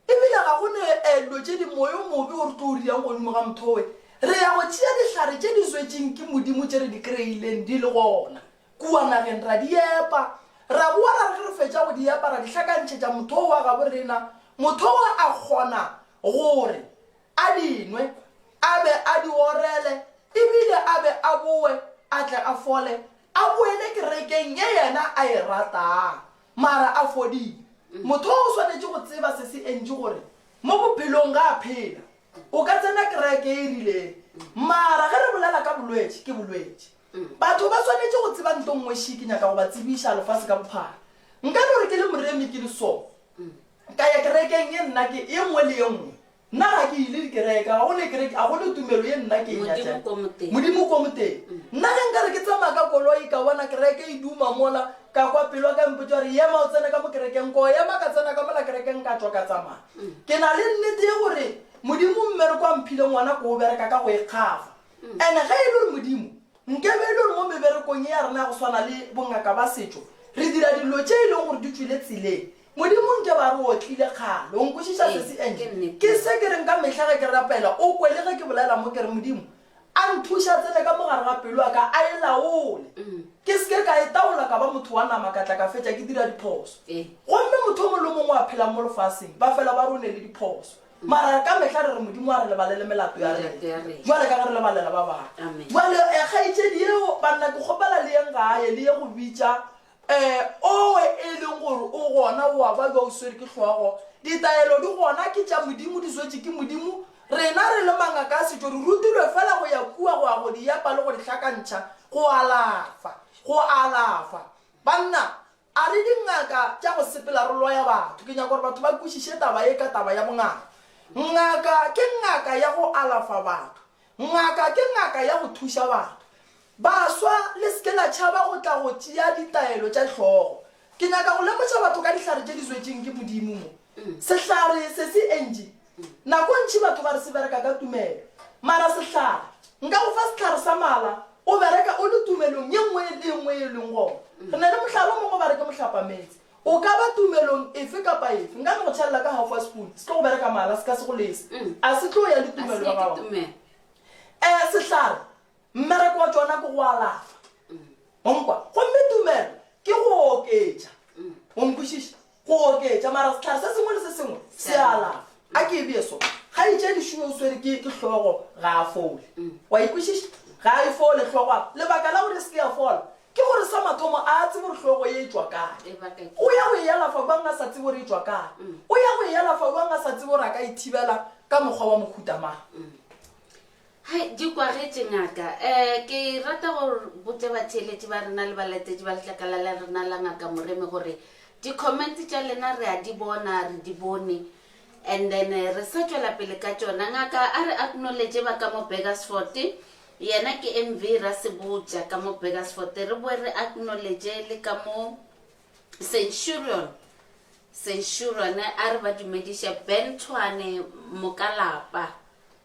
e bile ga go ne eh, dilo tše di moya o mobe o re tlo o riang godimo ga motho we. Re ya go tšea dihlare tše di zwetšeng ke Modimo tše re di kreileng di le gona. Kua nageng ra di epa. Ra boa ra re ge re fetša go di epa ra di hlakantšhetša motho o wa gabo rena, motho wa a kgona gore a di nwe, a be a di orele e bile a be a boe a tle a fole a boele kerekeng ye yena a e ratang mara a fodile. Motho o swanetše go tseba se se entši gore mo bophelong ga a phela. O ka tsena kereke e rileng mara ge re bolela ka bolwetši, ke bolwetši. Batho ba swanetše go tseba nto nngwe she ke nyaka go ba tsebiša lefase ka bophara. Nka no re ke le moremi ke le so. Ka ya kerekeng ye nna ke ye nngwe le ye nngwe. Nna ga ke ile dikereka, ga go ne kereke, ga go ne tumelo ye nna ke e nyatšang. Modimo ko moteng. Nna ge nka re ke tsamaya ka koloi ka bona kereke e duma mola, ka kwa pelo ya ka e mpotša gore yema o tsene ka mo kerekeng, ko ema ka tsena ka mola kerekeng ka tšwa ka tsamaya. Ke na le nnete ye gore Modimo mme re kwa mphile ngwana ko o bereka ka go ikgafa. And ge e le gore Modimo, nkebe e le gore mo meberekong ye ya rena ya go swana le bongaka ba setšo re dira dilo tše e lego gore di tšwile tseleng, Modimo nkebe a re otlile kgale. O nkwešiša Ee, sesi? Angie, ke nnete. ke se ke reng ka mehla ge ke rapela, o kwe le ge ke bolela mo ke re, Modimo, a nthuše a tsene ka mo gare ga pelo ya ka, a e laole. Ke se ke ka e taola ka ba motho wa nama ka tla ka fetša ke dira diphoso. Ee. Gomme motho o mongwe le o mongwe a phelang mo lefaseng ba fela ba rone le diphoso. Mara ka mehla re re Modimo a re lebalele melato ya rena, bjale ka ge re lebalela ba bangwe. Bjale eh, kgaetšedi yeo, banna, ke kgopela le yeng gae, le ye go bitša eh, owe e leng gore o gona, o a ba bja o swere ke hlogo. Ditaelo di gona, ke tša Modimo, di swetše ke Modimo. Rena re le mangaka a setšo re rutilwe feela go ya kua go a go di epa le go di hlakantšha, go alafa, go alafa. Banna! A re, Dingaka tša go sepela re loya batho. Ke nyaka gore batho ba kwešiše taba ye ka taba ya bongaka. Ngaka ke ngaka ya go alafa batho. Ngaka ke ngaka ya go thuša batho. Baswa, le se ke la tšhaba go tla go tšea ditaelo tša hlogo. Ke nyaka go lemoša batho ka dihlare tše di zwetšeng ke Modimo mo. Sehlare se se entši Nako ntši batho ba re se bereka ka tumelo. Mara sehlare, nka go fa sehlare sa mala, o bereka o le tumelong ye nngwe le ye nngwe ye e leng gona. Re na le mohlala o mongwe ba re ke mohlapametse. O ka ba tumelong efe kapa efe. Nka no go tšhelela ka half wa sepuni, se tlo go bereka mala, se ka se go lese. A se tlo ya le tumelo ya gago? Ee, sehlare, mmereko wa tšona ke go alafa. Wa nkwa? Gomme tumelo ke go oketša. O nkwešiša? Go oketša, mara sehlare se sengwe le se sengwe se a alafa. A ke e bee so, kgaetšedi Shuwe o swere ke, ke hlogo, ga a fole. Wa e kwešiša? Ga a e fole hlogo. A lebaka la gore e se ke ya fola ke gore sa mathomo a a tsebe gore hlogo ye e tšwa kae. O ya go e alafa bjang a sa tsebe gore e tšwa kae? O ya go e alafa bjang a sa tsebe gore a ka e thibela ka mokgwa wa mohuta mang? Hai, di kwagetše, Ngaka. Eh, ke rata go botša batheeletši ba rena le balatetši ba letlakala la rena la Ngaka Moremi gore di-comment tša lena re a di bona, re di bone. And then eh, re sa tšwela pele ka tšona. Ngaka a re acknowledge ba ka mo Burgersfort. Yena ke MV Rasebotša ka mo Burgersfort. Re boe re acknowledge le ka mo Centurion. Centurion a re ba dumediše Ben Tshwane Mokalapa.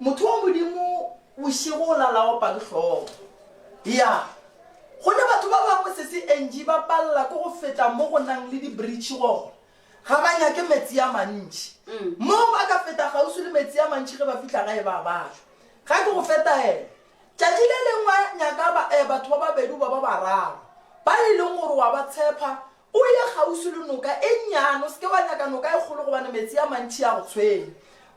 Motho wa Modimo, bošego o la la opa ke hlogo. Ya. Go ne batho ba bangwe, Sesi Angie, ba palela ke go feta mo go nang le dibritšhi gona. Ga ba nyake metsi a mantši. Moo ba ka feta kgauswi le metsi a mantši ge ba fihla gae ba bala. Ga ke go fe taelo. Tšatši le lengwe nyaka ba, eh, batho ba babedi goba ba bararo, ba e leng gore wa ba tshepa, O ye kgauswi le noka e nnyane, o se ke wa nyaka noka e kgolo gobane metsi a mantši a go tshwenya.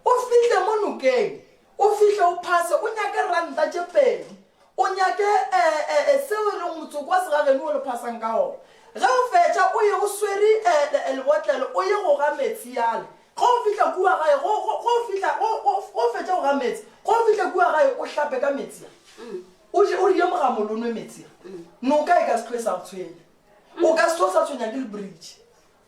O fihle mo nokeng, o fihle o phase, o nyake ranta tše pedi, o nyake ee-ee-ee seo e lego motsoko wa segageno wo le phasang ka gona. Ge o fetša, o ye o swere ee-ee-ee lebotlelo, o ye go ga metsi yale. Ge o fihla kua gae, ge, ge, ge o fihla, ge, ge, ge o fetša go ga metsi, ge o fihla kua gae, o hlape ka metsi a. O je, o rie mogamolo, o nwe metsi a. Noka e ka se tloge e sa go tshwenya. O ka se o sa tshwenya ke lebritšhi.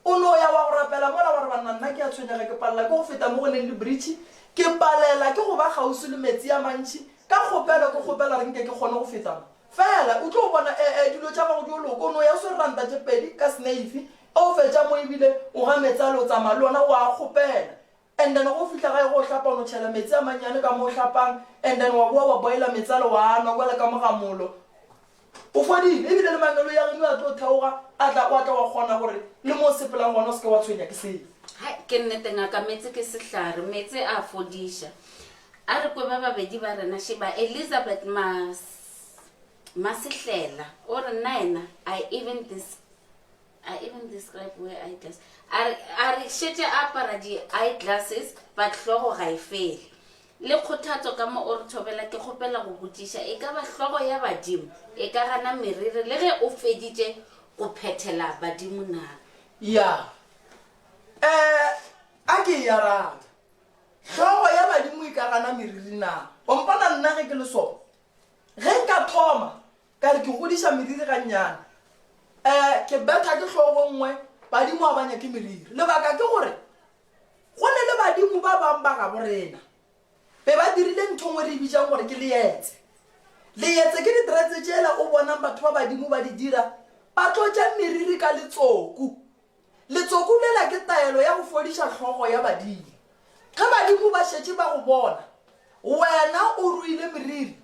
O no ya wa go rapela mola wa re, Banna, nna ke a tshwenyega, ke palela ke go feta mo go leng lebritšhi, ke palela ke go ba kgauswi le meetse a mantši. Ka kgopelo ke kgopela gore nke ke kgone go feta mo. Feela, o tlo bona, e, e, dilo tša gago di yo loka. O no ya o swere ranta tše pedi ka seneifi, ge o fetša mo e bile o ga meetse ale o tsamaya le ona, o a kgopela. And then ge o fihla gae go o hlapa o no tšhela metsi a mannyane ka mo o hlapang and then wa boa wa boiler metsalo wa a nwa kwala ka mo ga molo. O fodile ebile le mangelo ya geno a tlo theoga a tla wa tla wa kgona gore le mo o sepelang gona o seke wa tshwenya ke selo. Hai, ke nnete ngaka, metse ke sehlare, metse a fodiša. A re kwe ba babedi ba rena, šeba Elizabeth Ma, Masehlela, o re nnaena, I even this, I even describe wear eye glasses. A re, a re šetše a apara di-eye glasses, but hlogo ga e fele. Le kgothatso ka mo o re thobela, ke kgopela go botšiša, e ka ba hlogo ya badimo e ka gana meriri le ge o feditše go phethela badimo na? Ya. Eh, a ke e arabe. Hlogo ya badimo e ka gana meriri na? O mpona nna ge ke le sona? Ge nka thoma, Ka re ke godiša meriri gannyane. Ee, ke betha ke hlogo nngwe, Badimo a ba nyake meriri. Lebaka ke gore go ne le badimo ba bang ba gabo rena be ba dirile ntho nngwe re e bitšang gore ke leetse. Leetse ke ditretse tšela o bonang batho ba badimo ba di dira, ba tlotša meriri ka letsoku Letsoku lela ke taelo ya go fodiša hlogo ya badile. Ge badimo ba šetše ba go bona wena o ruile meriri,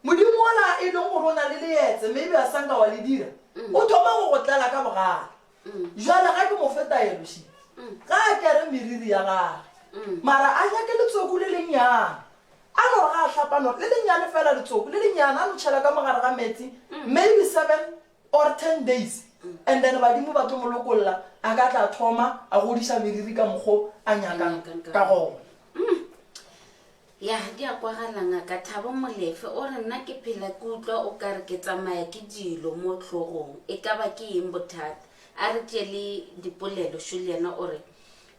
Modimo wola e leng gore o na le leetse mme ebe a sa nka wa le dira, o thoma go go tlala ka bogale. Bjale ga ke mo fe taelo še, ga a kere meriri ya gage, mara a nyake letsoku le lennyane. A no re ga a hlapa, a no re, Le lennyane feela letsoku le lennyane, a no tšhela ka mo gare ga meetse, mme ebe seven or 10 days and then badimo ba tlo mo lokolla a ka tla thoma a godiša meriri ka mokgo a nyakang ka gona mm. ya di a kwagalanga ka thabo molefe o re nna ke phela ke utlwa o ka re ke tsamaya ke dilo mo tlhogong e ka ba ke eng bothata a re tše le dipolelo šo le yena o re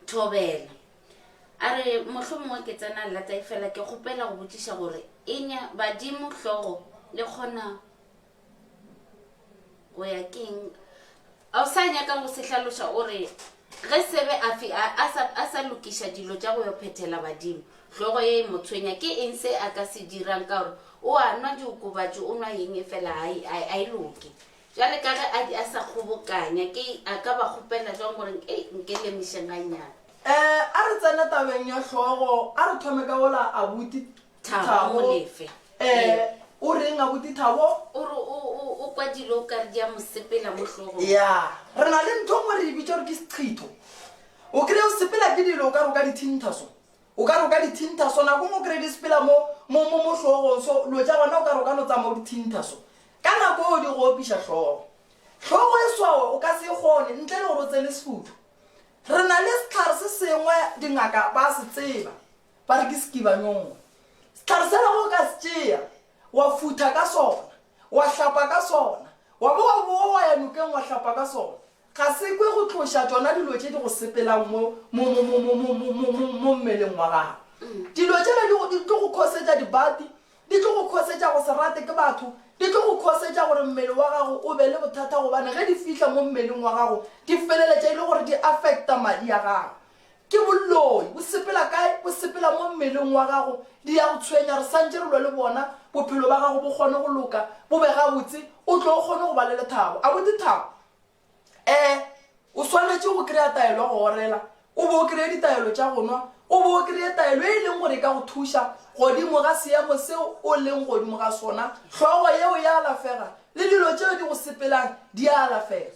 thobela a re motlho mongwe ke tsena lata e fela ke kgopela go botšiša gore enya badimo hlogo le kgona O ya keng? A o sa nyaka go se hlaloša o re, Ge Sebe a fi a, a, sa, a sa lokiša dilo tša go yo phethela badimo, hlogo ye e mo tshwenya, ke eng se a ka se dirang ka gore o a nwa diokobatši, o nwa eng efela ga e, a, a e loke? Bjale ka ge a di a sa kgobokanya, ke a ka ba kgopela bjang gore ei, nke lemišeng gannyane? Ee, a re tsene tabeng ya hlogo. A re thome ka wola, abuti. Thabo Thabo, Molefe. Eh, Ee. o reng abuti Thabo? O re o, o, o kwa dilo o ka re di a mo sepela mo hlogong. ya re na le ntho ngwe re e bitša gore ke sekgitho o kry-e o sepela ke dilo o ka roka dithinta so o ka roka dithinta so nako ngwe o kry-e di sepela mo mo mo mo hlogong so lo ja gona o ka roka no tsamao dithinta so ka nako eo di go opiša tlhogo tlhogo e swawe o ka se e kgone ntle le gore o tsene sefutho re na le setlhare se sengwe dingaka ba se tseba Ba re ke sekibanyong. Sehlare sela ge o ka se tšea, wa futha ka sona, wa hlapa ka sona, wa bo wa bowa wa ya nokeng wa hlapa ka sona, ga se kwe go tloša tšona dilo tše di go sepelang mo, mo, mo, mo, mo, mo, mo, mo, mo, mo mmeleng wa gago. Dilo tšela di go, di tlo go khosetša dibati, di tlo go khosetša go se rate ke batho, di tlo go khosetša gore mmele wa gago o be le bothata gobane ge di fihla mo mmeleng wa gago di feleletša e le gore di affecta madi a gago. Ke bolloi, bo sepela kae? Bo sepela mo mmeleng wa gago. Di ya go tshwenya, re santše re lwa le bona, bophelo ba gago bo kgone go loka, bo be gabotse, o tle o kgone go ba le lethabo. A bo dithabo? Ee. O swanetše go kry-a taelo ya go orela, o bo o kry-e ditaelo tša go nwa, o bo o kry-e taelo e e leng gore e ka go thuša godimo ga seemo seo o leng godimo ga sona. Hlogo yeo e a alafega, le dilo tšeo di go sepelang di a alafega.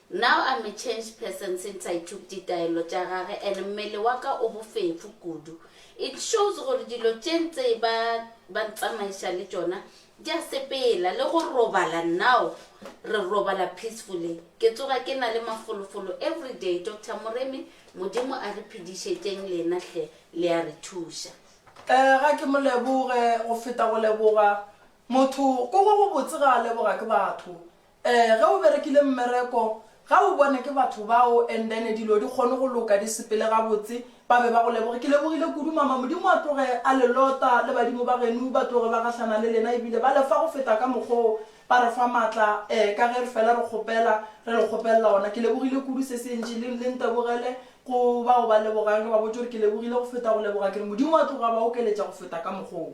Now I'm a changed person since I took ditaelo tša gage and mmele wa ka o bofefo kudu. It shows gore dilo tše ntse ba ba ntsamaiša le tšona di a sepela. Le go robala now re robala peacefully. Ke tsoga ke na le mafolofolo everyday. Doctor Moremi, Modimo a re phedišetšeng lena hle, le a re thuša. Eh, ga ke mo leboge, go feta go leboga motho ko go go botse ga a leboga ke batho. Ee, ge o berekile mmereko, ga o bone ke batho bao and then dilo di kgone go loka, di sepele gabotse, ba be ba go leboge. Ke lebogile kudu mama, Modimo a tloge a le lota le badimo ba genu ba tloge ba gahlana le lena ebile ba lefa go feta ka mokgo ba re fa matla eh, ka ge re fela re kgopela, re le kgopelela ona. Ke lebogile kudu se se ntši, le le ntebogele go bao ba lebogang, re ba botše gore ke lebogile go feta go leboga, ke re Modimo a tloge a ba okeletša go feta ka mokgo.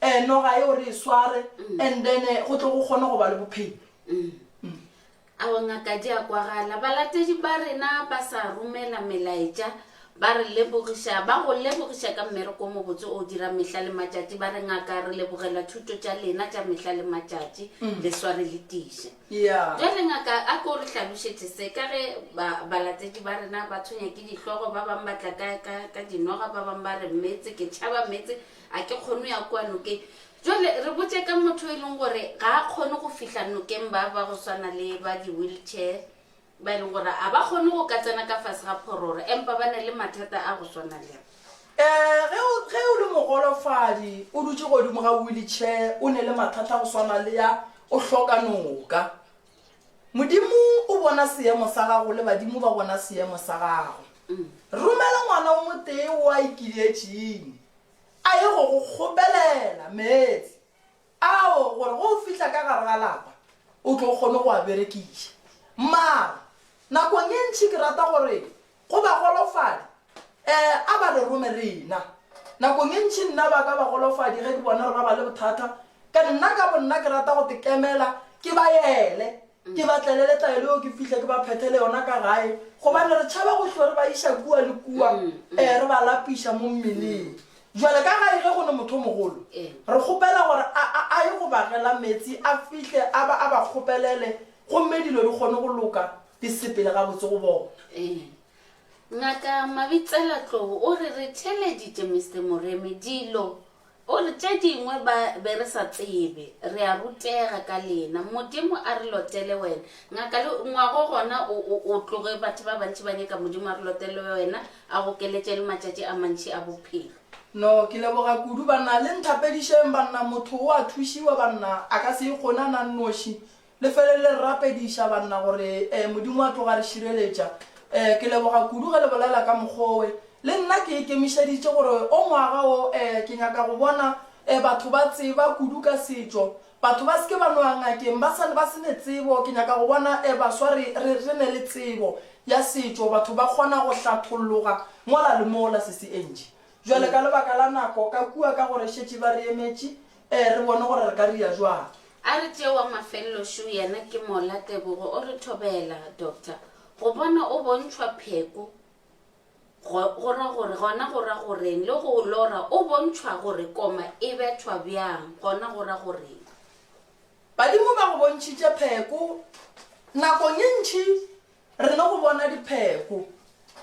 eh, noga yeo re e sware and then eh, go tle go kgone go ba le bophelo ao ngaka di a kwagala balatedi ba rena ba sa romela melaetša ba re lebogiša ba go lebogiša ka mmereko o mobotse o dira mehla le matšatši ba re ngaka re lebogela thuto tša lena tša mehla le matšatši le sware le tiše ya jale ngaka a ko re hlalošetše se ka ge ba- balatedi ba rena ba tshwenya ke dihlogo ba bangwe ba tla ka- ka ka dinoga ba bangwe ba re metse ke tšhaba metse A ke kgone go ya kua nokeng? Bjale, re botše ka motho yo e leng gore ga a kgone go fihla nokeng, ba, ba go swana le ba di-wheelchair, ba e leng gore ga ba kgone go ka tsena ka fase ga phororo, empa ba na le mathata a go swana le a. Ee, ge o, ge o le mogolofadi, o dutše godimo ga wheelchair, o ne le mathata a go swana le a, o hloka noka. Modimo o bona seemo sa gago le badimo ba bona seemo sa gago. Romela ngwana o motee wo a ikiletšeng a ye go go kgopelela meetse ao gore go o fihla ka gare ga lapa o tlo kgone go a berekiša. Mara nakong e ntši ke rata gore Go ba golofadi, ee, a ba re rome rena. Nakong e ntši nna ba ka ba golofadi ge ke bona gore ba ba le bothata. Ka nna ka bonna ke rata go tekemela, ke ba yele, ke ba tlele le tlaelo yeo ke fihle ke ba phethele yona ka gae, gobane re tšhaba go hlo re ba iša kua le kua, ee, re ba lapiša mo mmeleng. Bjale ka gae ge go ne motho o mogolo, re kgopela gore a, a, a ye go bagela meetse, a fihle a ba, a ba kgopelele, gomme dilo di kgone go loka. Di sepele gabotse go bona. Ee. Ngaka Mabitsela Tlou o re re theeleditše Mister Moremi dilo. O re tše dingwe ba be re sa tsebe. Re a rutega ka lena. Modimo a re lotele wena. Ngaka le ngwago gona o, o, o tloge batho ba bantši ba nyaka Modimo a re lotele wena, a go keletše le matšatši a mantši a bophelo. No, ke leboga kudu, banna. Le nthapedišeng, banna. Motho o a thušiwa, banna. A ka se ikgone a na nnoši. Le felelele re rapediša, banna, gore Modimo a tloga a re šireletša. Ke leboga kudu ge le bolela ka mokgowe. Le nna ke ikemišeditše gore o ngwaga wo ke nyaka go bona batho ba tseba kudu ka setšo. Batho ba se ke ba no ya ngakeng ba sa ba se ne tsebo. Ke nyaka go bona baswa re re re ne le tsebo ya setšo, batho ba kgona go hlatholloga mola le mola. Sesi Angie, jwale ka lebaka la nako ka kua ka gore šetše ba re emetše, Ee, re bone gore re ka ria jwang. A re tšee wa mafelelo šo yena ke Mola Tebogo. O re thobela, Doctor. Go bona o bontšhwa pheko go, go ra gore, gona go ra goreng? Le go lora o bontšhwa gore koma e bethwa bjang, gona go ra goreng? Badimo ba go bontšhitše pheko nakong ye ntši Re tlile go bona dipheko.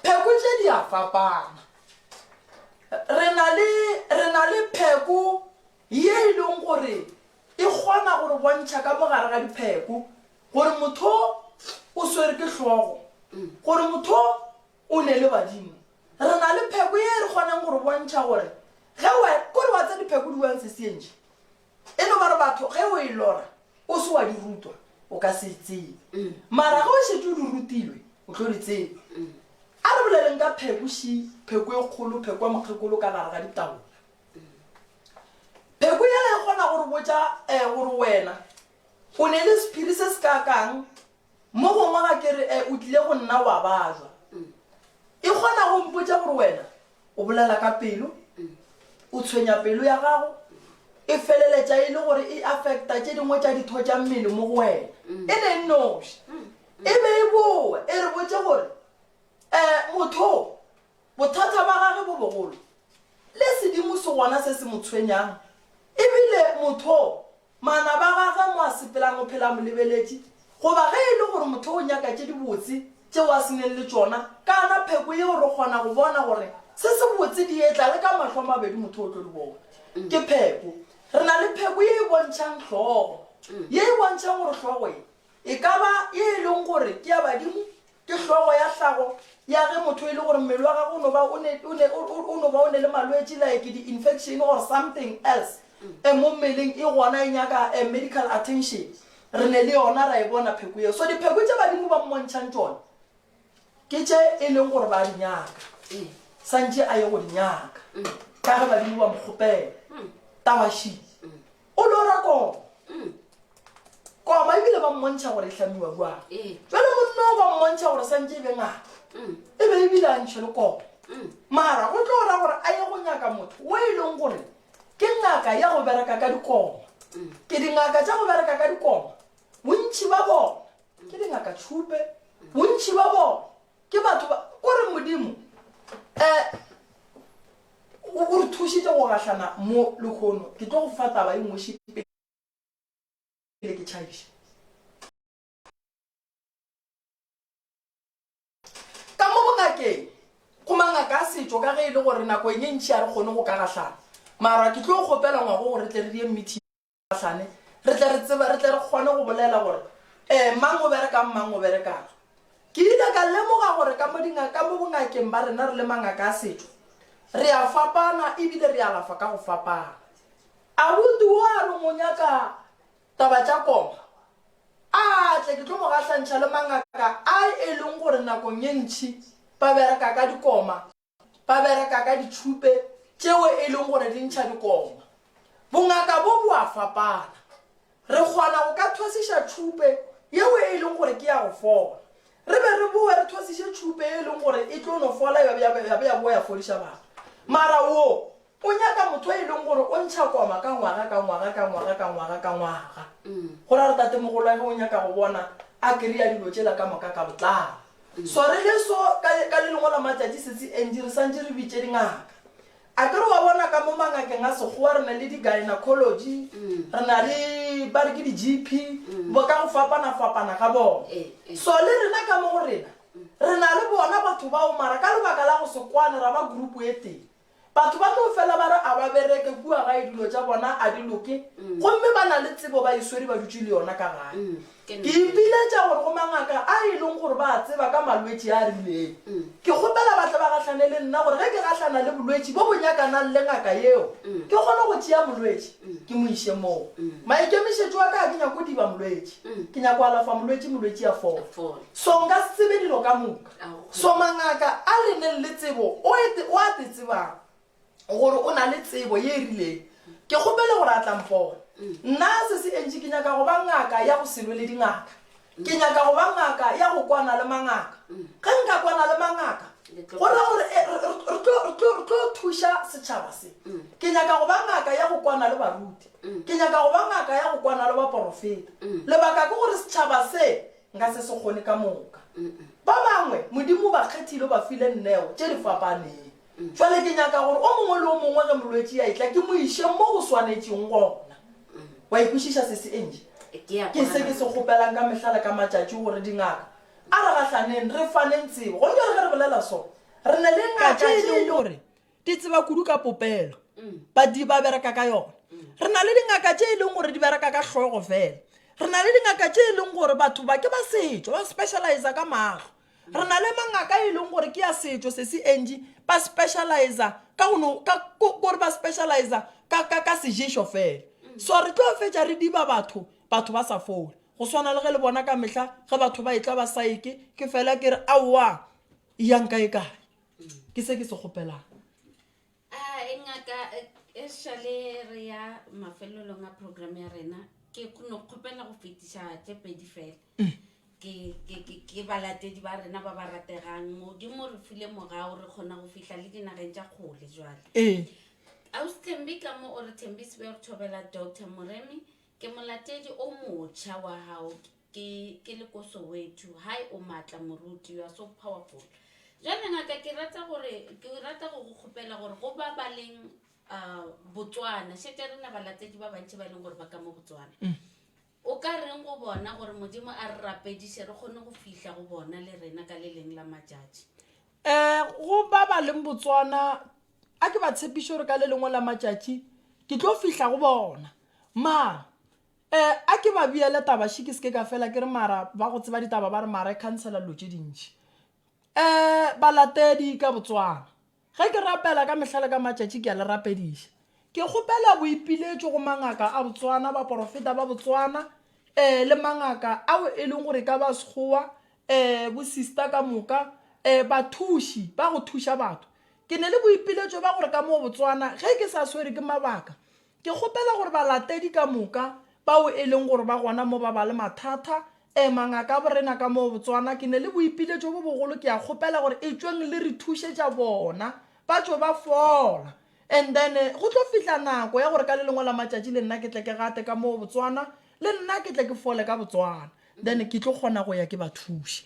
Pheko tše di a fapana. Re na le, re na le pheko ye e leng gore e kgona gore bontšha ka mogare ga dipheko gore motho o swere ke hlogo, gore motho o ne le badimo. Re na le pheko ye re kgoneng gore bontšha gore ge wa, kore wa tsa dipheko di wang sesientši. E no ba re batho ge o e lora o se wa di rutwa o ka se e tsebe, mara ge o šetše o di rutilwe o tlo di tseba. A re boleleng ka pheko, ši, pheko e kgolo, pheko ya mokgekolo ka gare ga ditaola. Pheko yela e kgona go re botša um gore wena o ne le sephiri se se kaakang, Mo gongwe ga ke re, E, o tlile go nna wa ba jwa. E kgona go mpotša gore wena o bolela ka pelo, o tshwenya pelo ya gago, e feleletša e le gore e affecta tše dingwe tša ditho tša mmele mo go wena, e le nnoši. E be e boa e re botše gore, E, motho o, bothata ba gage bo bogolo, le sedimo se gona se se mo tshwenyang, ebile motho o Manaba a gagwe mo a sepelago o phela a mo lebeletše, goba ge e le gore motho o nyaka tše dibotse tšeo a se neng le tšona, kana pheko yeo re kgona go bona gore se sebotse di etla le ka mahlo a mabedi motho o tlo di bona. Ke pheko. Re na le pheko ye e bontšhang hlogo, ye e bontšhang gore hlogo ye e ka ba ye e leng gore ke ya badimo Ke hlogo ya hlago ya ge motho e le gore mmele wa gagwe o no ba o ne, o ne, o no ba o ne le malwetši like di-infection or something else e mo mmeleng, e gona e nyaka a medical attention. Re ne le yona ra e bona pheko yeo. So dipheko tše Badimo ba mmontšhang tšona ke tše e leng gore ba di nyaka, santše a ye go di nyaka ka ge Badimo ba mo kgopela. Tawashi. O lora koma. Koma ebile ba mmontšha gore e hlamiwa bjang. Bjale monna o ba mmontšha gore santše e be ngaka. E be ebile a ntšhe le koma. Mara go tlo ra gore a ye go nyaka motho wo e leng gore ke ngaka ya go bereka ka dikoma. Ke dingaka tša go bereka ka dikoma. Bontši ba bona ke dingaka tšhupe. Bontši ba bona ke batho ba kore Modimo eh O, o re thušitše go gahlana mo, lekhono. Ke tlo go fa taba e nngwe še pele ke tšhabiša. Ka mo bongakeng, go mangaka a setšo, ka ge e le gore nako e ne e ntši a re kgone go ka gahlana, mara ke tlo kgopela ngwago gore re tle re die mmithi. Gahlane, re tle re tseba, re tle re kgone go bolela gore, ee, mang o berekang, mang o berekang. Ke ile ka lemoga gore ka mo dinga, ka mo bongakeng ba rena re le mangaka a setšo, re a fapana e bile re alafa ka go fapana. Abuti wo a re mo nyaka taba tša koma, a tle ke tlo mo gahlantšha le mangaka a e leng gore nakong e ntši ba bereka ka dikoma. Ba bereka ka ditšhupe tšeo e lego gore di ntšha dikoma. Bongaka bo bo a fapana. Re kgona go ka thwasiša tšhupe yeo e lego gore ke ya go fola, re be re bowe re thwasiše tšhupe ye e lego gore e tlo no fola ya be ya bowa ya fodiša batho. Mara wo O nyaka motho yo e leng gore o ntšha koma ka ngwaga ka ngwaga ka ngwaga ka ngwaga ka ngwaga. Go ra gore tatemogolwage o nyaka go bona a kry-a dilo tšela ka moka ka botlalo. So re le so, ka, ka le lengwe la matšatši sesi Angie re swantše re bitše dingaka. A ke re wa bona ka mo mangakeng a Sekgowa re na le di-gynecology, re na le ba re ke di-GP, bo ka go fapana-fapana ga bona. So le rena ka mo go rena re na le bona batho bao mara ka lebaka la go se kwane ra ba group e tee. Batho ba tlo fela ba re a ba bereke kua gae dilo tša bona a di loke gomme ba na le tsebo ba e swere ba dutše le yona ka gae. Ke ipiletša gore go mangaka a e leng gore ba a tseba ka malwetši a a rileng. Ke kgopela ba tle ba gahlane le nna gore ge ke gahlana le bolwetši bo bo nyakanang le ngaka yeo ke kgone go tšea molwetši ke mo iše moo. Maikemišetšo a ka ga ke nyake go diba molwetši. Ke nyaka go alafa molwetši molwetši a fole. So nka se tsebe dilo ka moka. So mangaka a le neng le tsebo o ete o a te tsebang gore o na le tsebo ye e rileng ke kgopele gore a tla mpona nna se se entše ke nyaka go ba ngaka ya go selwe le dingaka ke nyaka go ba ngaka ya go kwana le mangaka ge nka kwana le mangaka go ra gore eh, re tlo thuša setšhaba se ke nyaka go ba ngaka ya go kwana le baruti ke nyaka go ba ngaka ya go kwana le baporofeta lebaka ke gore setšhaba se Nka se se kgone ka moka. Ba bangwe Modimo o ba kgethile, o ba file nneo tše di fapaneng. Bjale ke nyaka gore o mongwe le o mongwe ge molwetši a etla, ke mo iše mo go swanetšeng gona. Wa e kwešiša, sesi Angie? Ke a Ke se ke se kgopelang ka mehla le ka matšatši gore dingaka a re gahlaneng, re faneng tsebo. Gona bjale ge re bolela so, re na le Ka ngaka tše e tše lego gore di tseba kudu ka popelo badiri ba bereka ka yona re na le dingaka tše e leng gore di bereka ka hlogo fela re na le dingaka tše e leng gore batho ba ke ba setšo ba specializa ka maahlo re na le mangaka e leng gore ke ya setšo se se enji ba specializa ka gore ba specializa ka seješo fela so re tlo fetša re diba batho batho ba sa fole go swana le ge le bona ka mehla ge batho ba etla ba saeke ke fela ke re aowa yang kae kae ke se ke se kgopelang a e ngaka e šale re ya mafelelong a program ya rena ke kgone go kgopela go fetiša tše pedi fela mm. ke, ke, ke, ke balatedi ba rena ba ba rategang modimo re file mogao re kgona go fihla le dinageng tša kgole jwale ee austhembi ka mo o re thembisibe re thobela doctor moremi ke molatedi o motšha wa gago Ke, ke le ko Soweto. Hi, o maatla moruti, you are so powerful. Jwale ngaka ke rata gore, ke rata go go kgopela gore go ba ba leng uh, Botswana, šetša rena balatedi ba bantši ba e leng gore ba ka mo Botswana. O ka reng go bona gore Modimo a re rapediše re kgone go fihla go bona le rena ka le leng la matšatši? um go ba ba leng botswana a ke ba tshepiše gore ka le lengwe la matšatši ke tlo fihla go bona mara E, a ke ba beele taba še ke se ke ka fela ke re mara ba go tseba ditaba ba re mara e khansela dilo tše dintši. E, balatedi ka Botswana. Ge ke rapela ka mehla le ka matšatši ke a le rapediša. Ke kgopela boipiletšo go mangaka a Botswana, baporofeta ba Botswana, e, le mangaka ao e leng gore e ka ba Sekgowa, e, bosista ka moka, e, bathuši ba go thuša batho. Ke ne le boipiletšo ba gore ka moo Botswana ge ke sa swere ke mabaka Ke kgopela gore balatedi ka moka, bao e leng gore ba gona mo ba ba le mathata, ee, mangaka a borena ka moo Botswana, ke ne le boipiletšo bo bogolo, ke a kgopela gore etšweng le re thušetša bona, ba tšo ba fola. And then, go tlo fihla nako ya gore ka le lengwe la matšatši le nna ke tle ke gate ka moo Botswana, le nna ke tle ke fole ka Botswana, then ke tlo kgona go ya ke ba thuše.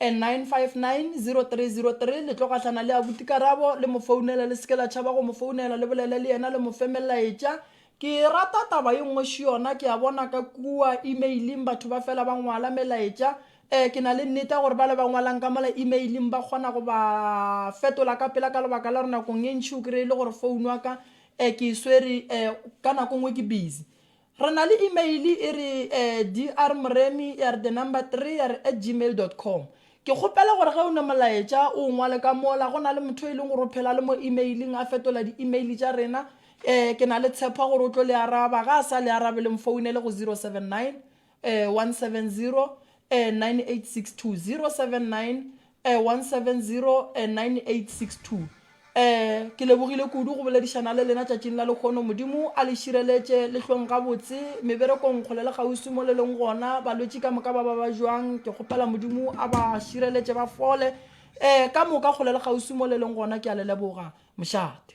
9590303 le tlo gahlana le abuti karabo le mo founele le seke la tšhaba go mo founela le bolele le yena le mo fe melaetša ke rata taba ye nngwe še yona ke a bona ka kua emailing batho ba fela ba ngwala melaetša um ke na le nnete ya gore ba le ba ngwalang ka mola emailing ba kgona go ba fetola ka pela ka lebaka la gore nakong e ntši o kry-e le gore founu wa ka um ke e swere um ka nako nngwe ke busy Re na le imeile e re drmremi3 at gmail dot com. Ke kgopela gore ge o ne molaetša o o ngwale ka mola, go na le motho yo e leng gore o phela le mo imeiling a fetola di-imeile tša rena. Ke na le tshepo ya gore o tlo le araba. Ge a sa le arabe, le mfounele go 079 170 9862, 079 1709862 Ke lebogile kudu go boledišana le lena tšatšing la lekgono. Modimo a le šireletše, le hlong gabotse meberekong kgole le kgauswi mo le leng gona. Balwetši ka moka ba ba ba bjang, ke kgopela Modimo a ba šireletše ba fole ka moka kgole le kgauswi mo le leng gona. Ke a le leboga mošate.